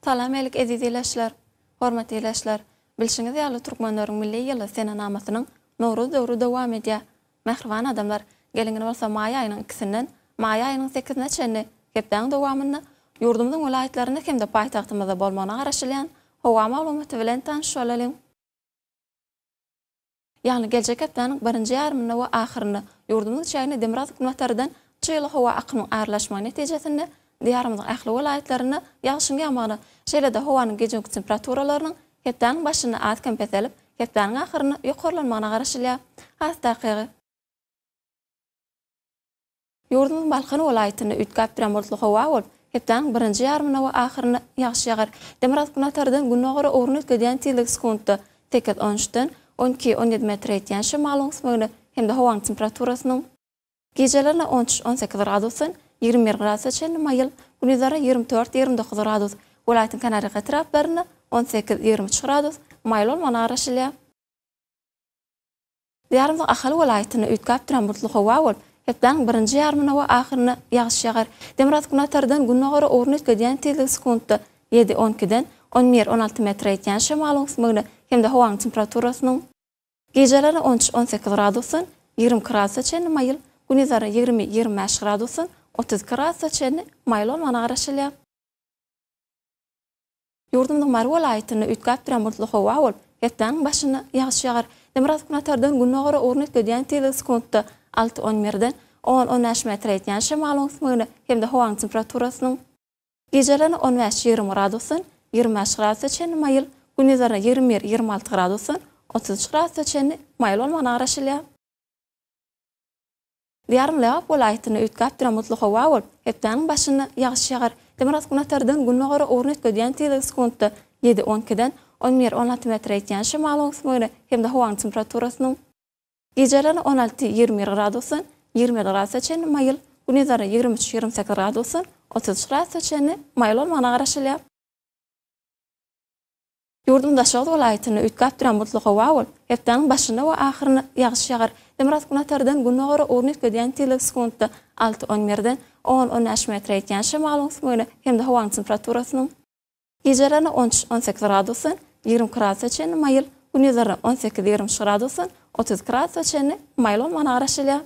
Speaker 4: Salam Elik Eziz Ileşler! Hormatly Ileşler! Bilşiňiz ýaly Türkmenleriň Milli ýyly senenamasynyň Nowruz döwri dowam edýär. Mähriban adamlar, geliň indi bolsa maý aýynyň ikisinden maý aýynyň sekizine çenli hepdäň dowamynda ýurdumyzyň welaýatlarynda hem-de paýtagtymyzda bolmagyna garaşylýan howa maglumaty bilen tanyşyp bolalyň. ýagny geljek hepdäniň birinji ýarymynda we ahyrynda ýurdumyz çägine demirgazyk-günbatardan çygly howa akymyň aralaşmagy netijesinde Diýarymyzyň ähli welaýatlarynda ýagşyň ýagmagyna, şeýle-de howanyň gije-gündüz temperaturalarynyň hepdäniň başynda az-kem peselip, hepdäniň ahyrynda ýokarlanmagyna garaşylýar. Has takygy. Ýurdumyzyň Balkan welaýatynda üýtgäpdürýän bulutly howa bolup, hepdäniň birinji ýarymynda we ahyrynda ýagyş ýagar. Demirgazyk-günortadan güngogara ugruny üýtgedýän tizligi sekuntda sekiz, on üçden on iki, on ýedi metre ýetýän şemalyň üsmegine hem-de howanyň temperaturasynyň, gijelerine on üç, on sekiz gradusdan ýigrimi bir gradusa çenli maýyl, gündizlerine ýigrimi dört, ýigrimi dokuz gradus, welaýatyň kenarýaka etraplarynda on sekiz, ýigrimi üç gradus maýyl bolmagyna garaşylýar. Diýarymyzyň Ahal welaýatynda üýtgäp duran bulutly howa bolup, hepdäniň birinji ýarymynda we ahyrynda ýagyş ýagar. Demirgazyk-günbatardan günnogara ugruny üýtgedýän tizligi sekuntda ýedi, on ikiden on bir, on alty metre ýetýän şemalyň üsmügine hem-de howanyň temperaturasynyň, gijeleri on üç, on sekiz gradusdan ýigrimi iki gradusa çenli maýyl, gündizleri ýigrimi, ýigrimi bäş gradusdan otuz iki gradusa çenli maýyl bolmagyna garaşylýar. Ýurdumyzyň Mary welaýatynda üýtgäp duran bulutly howa bolup, hepdäniň başynda ýagyş ýagar. Demirgazyk günbatardan gündogara ugrun üýtgedýän tizligi sekuntda alty-on mrden, on-on bäş metre ýetýän şemalyň öwüsmegine hem-de howanyň temperaturasynyň, gijelerine on bäş-ýigrimi gradusdan ýigrimi bäş gradusa çenli maýyl, gündizlerine ýigrimi bir-ýigrimi alty gradusdan otuz üç gradusa çenli maýyl bolmagyna garaşylýar. Diýarym Lebap welaýatynda üýtgäp duran mutly howa bolup, hepdäniň başynda ýagyş ýagar. Demirgazyk-günortadan güngogara ugruny üýtgedýän tizligi sekuntda ýedi, on ikiden on bir, on alty metre ýetýän şemalyň öwüsmegine hem-de howanyň temperaturasynyň, gijeleri on alty, ýigrimi bir gradusdan ýigrimi ýedi gradusa çenli maýyl, gündizleri ýigrimi üç, ýigrimi sekiz gradusdan otuz üç gradusa çenli maýyl bolmagyna garaşylýar. Ýurduň daşoguz welaýatynda üýtgäp duran bulutly howa bolup, hepdäniň başynda we ahyrynda ýagyş ýagar. Demirgazyk günortadan gündogar ugruna üýtgedýän tizligi sekuntda alty-on birden on-on bäş metre ýetýän şemalyň üsmügine hem-de howanyň temperaturasynyň, gijelerine on üç-on sekiz gradusdan ýigrimi gradusa çenli maýyl, gündizlerine on sekiz-ýigrimi üç gradusdan otuz iki gradusa çenli maýyl bolmagyna garaşylýar.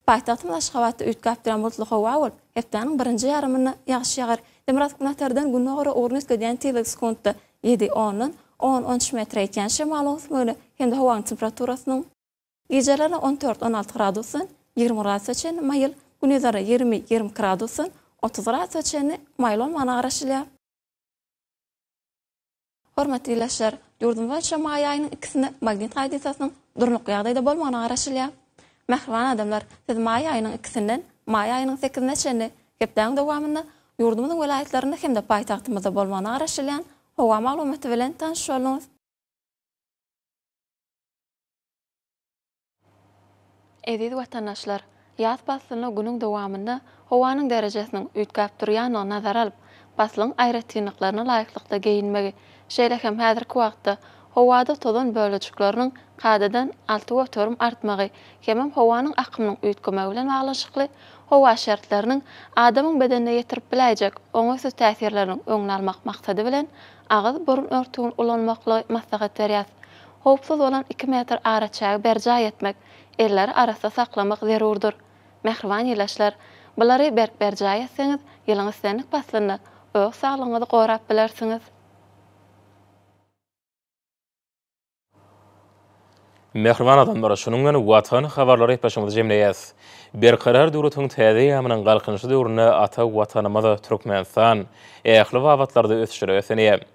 Speaker 4: Paýtagtymyz Aşgabatda üýtgäpduran bulutly howa bolup, hepdäniň birinji ýarymynda ýagyş ýagar. Demirgazyk-günortadan güngogara ugruny üýtgedýän tizligi sekuntda ýedi, ondan on, on üç metre ýetýän şemalyň ösmegine hem-de howanyň temperaturasynyň, gijeleri on dört, on alty gradusdan ýigrimi gradusa çenli maýyl, gündizleri ýigrimi, ýigrimi iki gradusdan otuz gradusa çenli maýyl bolmagyna garaşylýar. Hormatly ildeşler! Ýurdumyz boýunça maý aýynyň ikisinde magnit hadysasynyň durnukly ýagdaýda bolmagyna garaşylýar. Mähriban adamlar, siz maý aýynyň ikisinden maý aýynyň sekizine çenli hepdäniň dowamynda ýurdumyzyň welaýatlarynda hem-de paýtagtymyzda bolmagyna garaşylýan howa maglumaty bilen tanyşyp bolduňyz. Eziz watandaşlar! Ýaz paslyny günüň dowamynda howanyň derejesiniň üýtgäp durýandygy nazara alyp, paslyň aýratynlyklaryna laýyklykda geýinmegi, şeýle hem häzirki wagtda howada tozan bölejikleriniň kadadan alty göterim artmagy hemem howanyň akymynyň üýtgemegi bilen baglanyşykly howa şertleriniň adamyň bedenine ýetirip biläýjek oňaýsyz täsirleriniň öňüni almak maksady bilen agyz-burun örtügini ulanmaklygy maslahat berýär. Howpsuz bolan iki metr araçägi berjaý etmek, elleri arassa saklamak zerurdyr. Mähriban ilaçlar, bulary berk berjaý etseňiz, ýylyň islendik paslynda öz saglygyňyzy gorap bilersiňiz.
Speaker 1: Mähriban adamlar, şunuň bilen Watan habarlary gepleşigimizi jemleýäs. Berkarar döwletiň täze eýýamynyň Galkynyşy döwründe ata Watanymyz Türkmenistan ähli babatlarda ösüşlere beslenýär.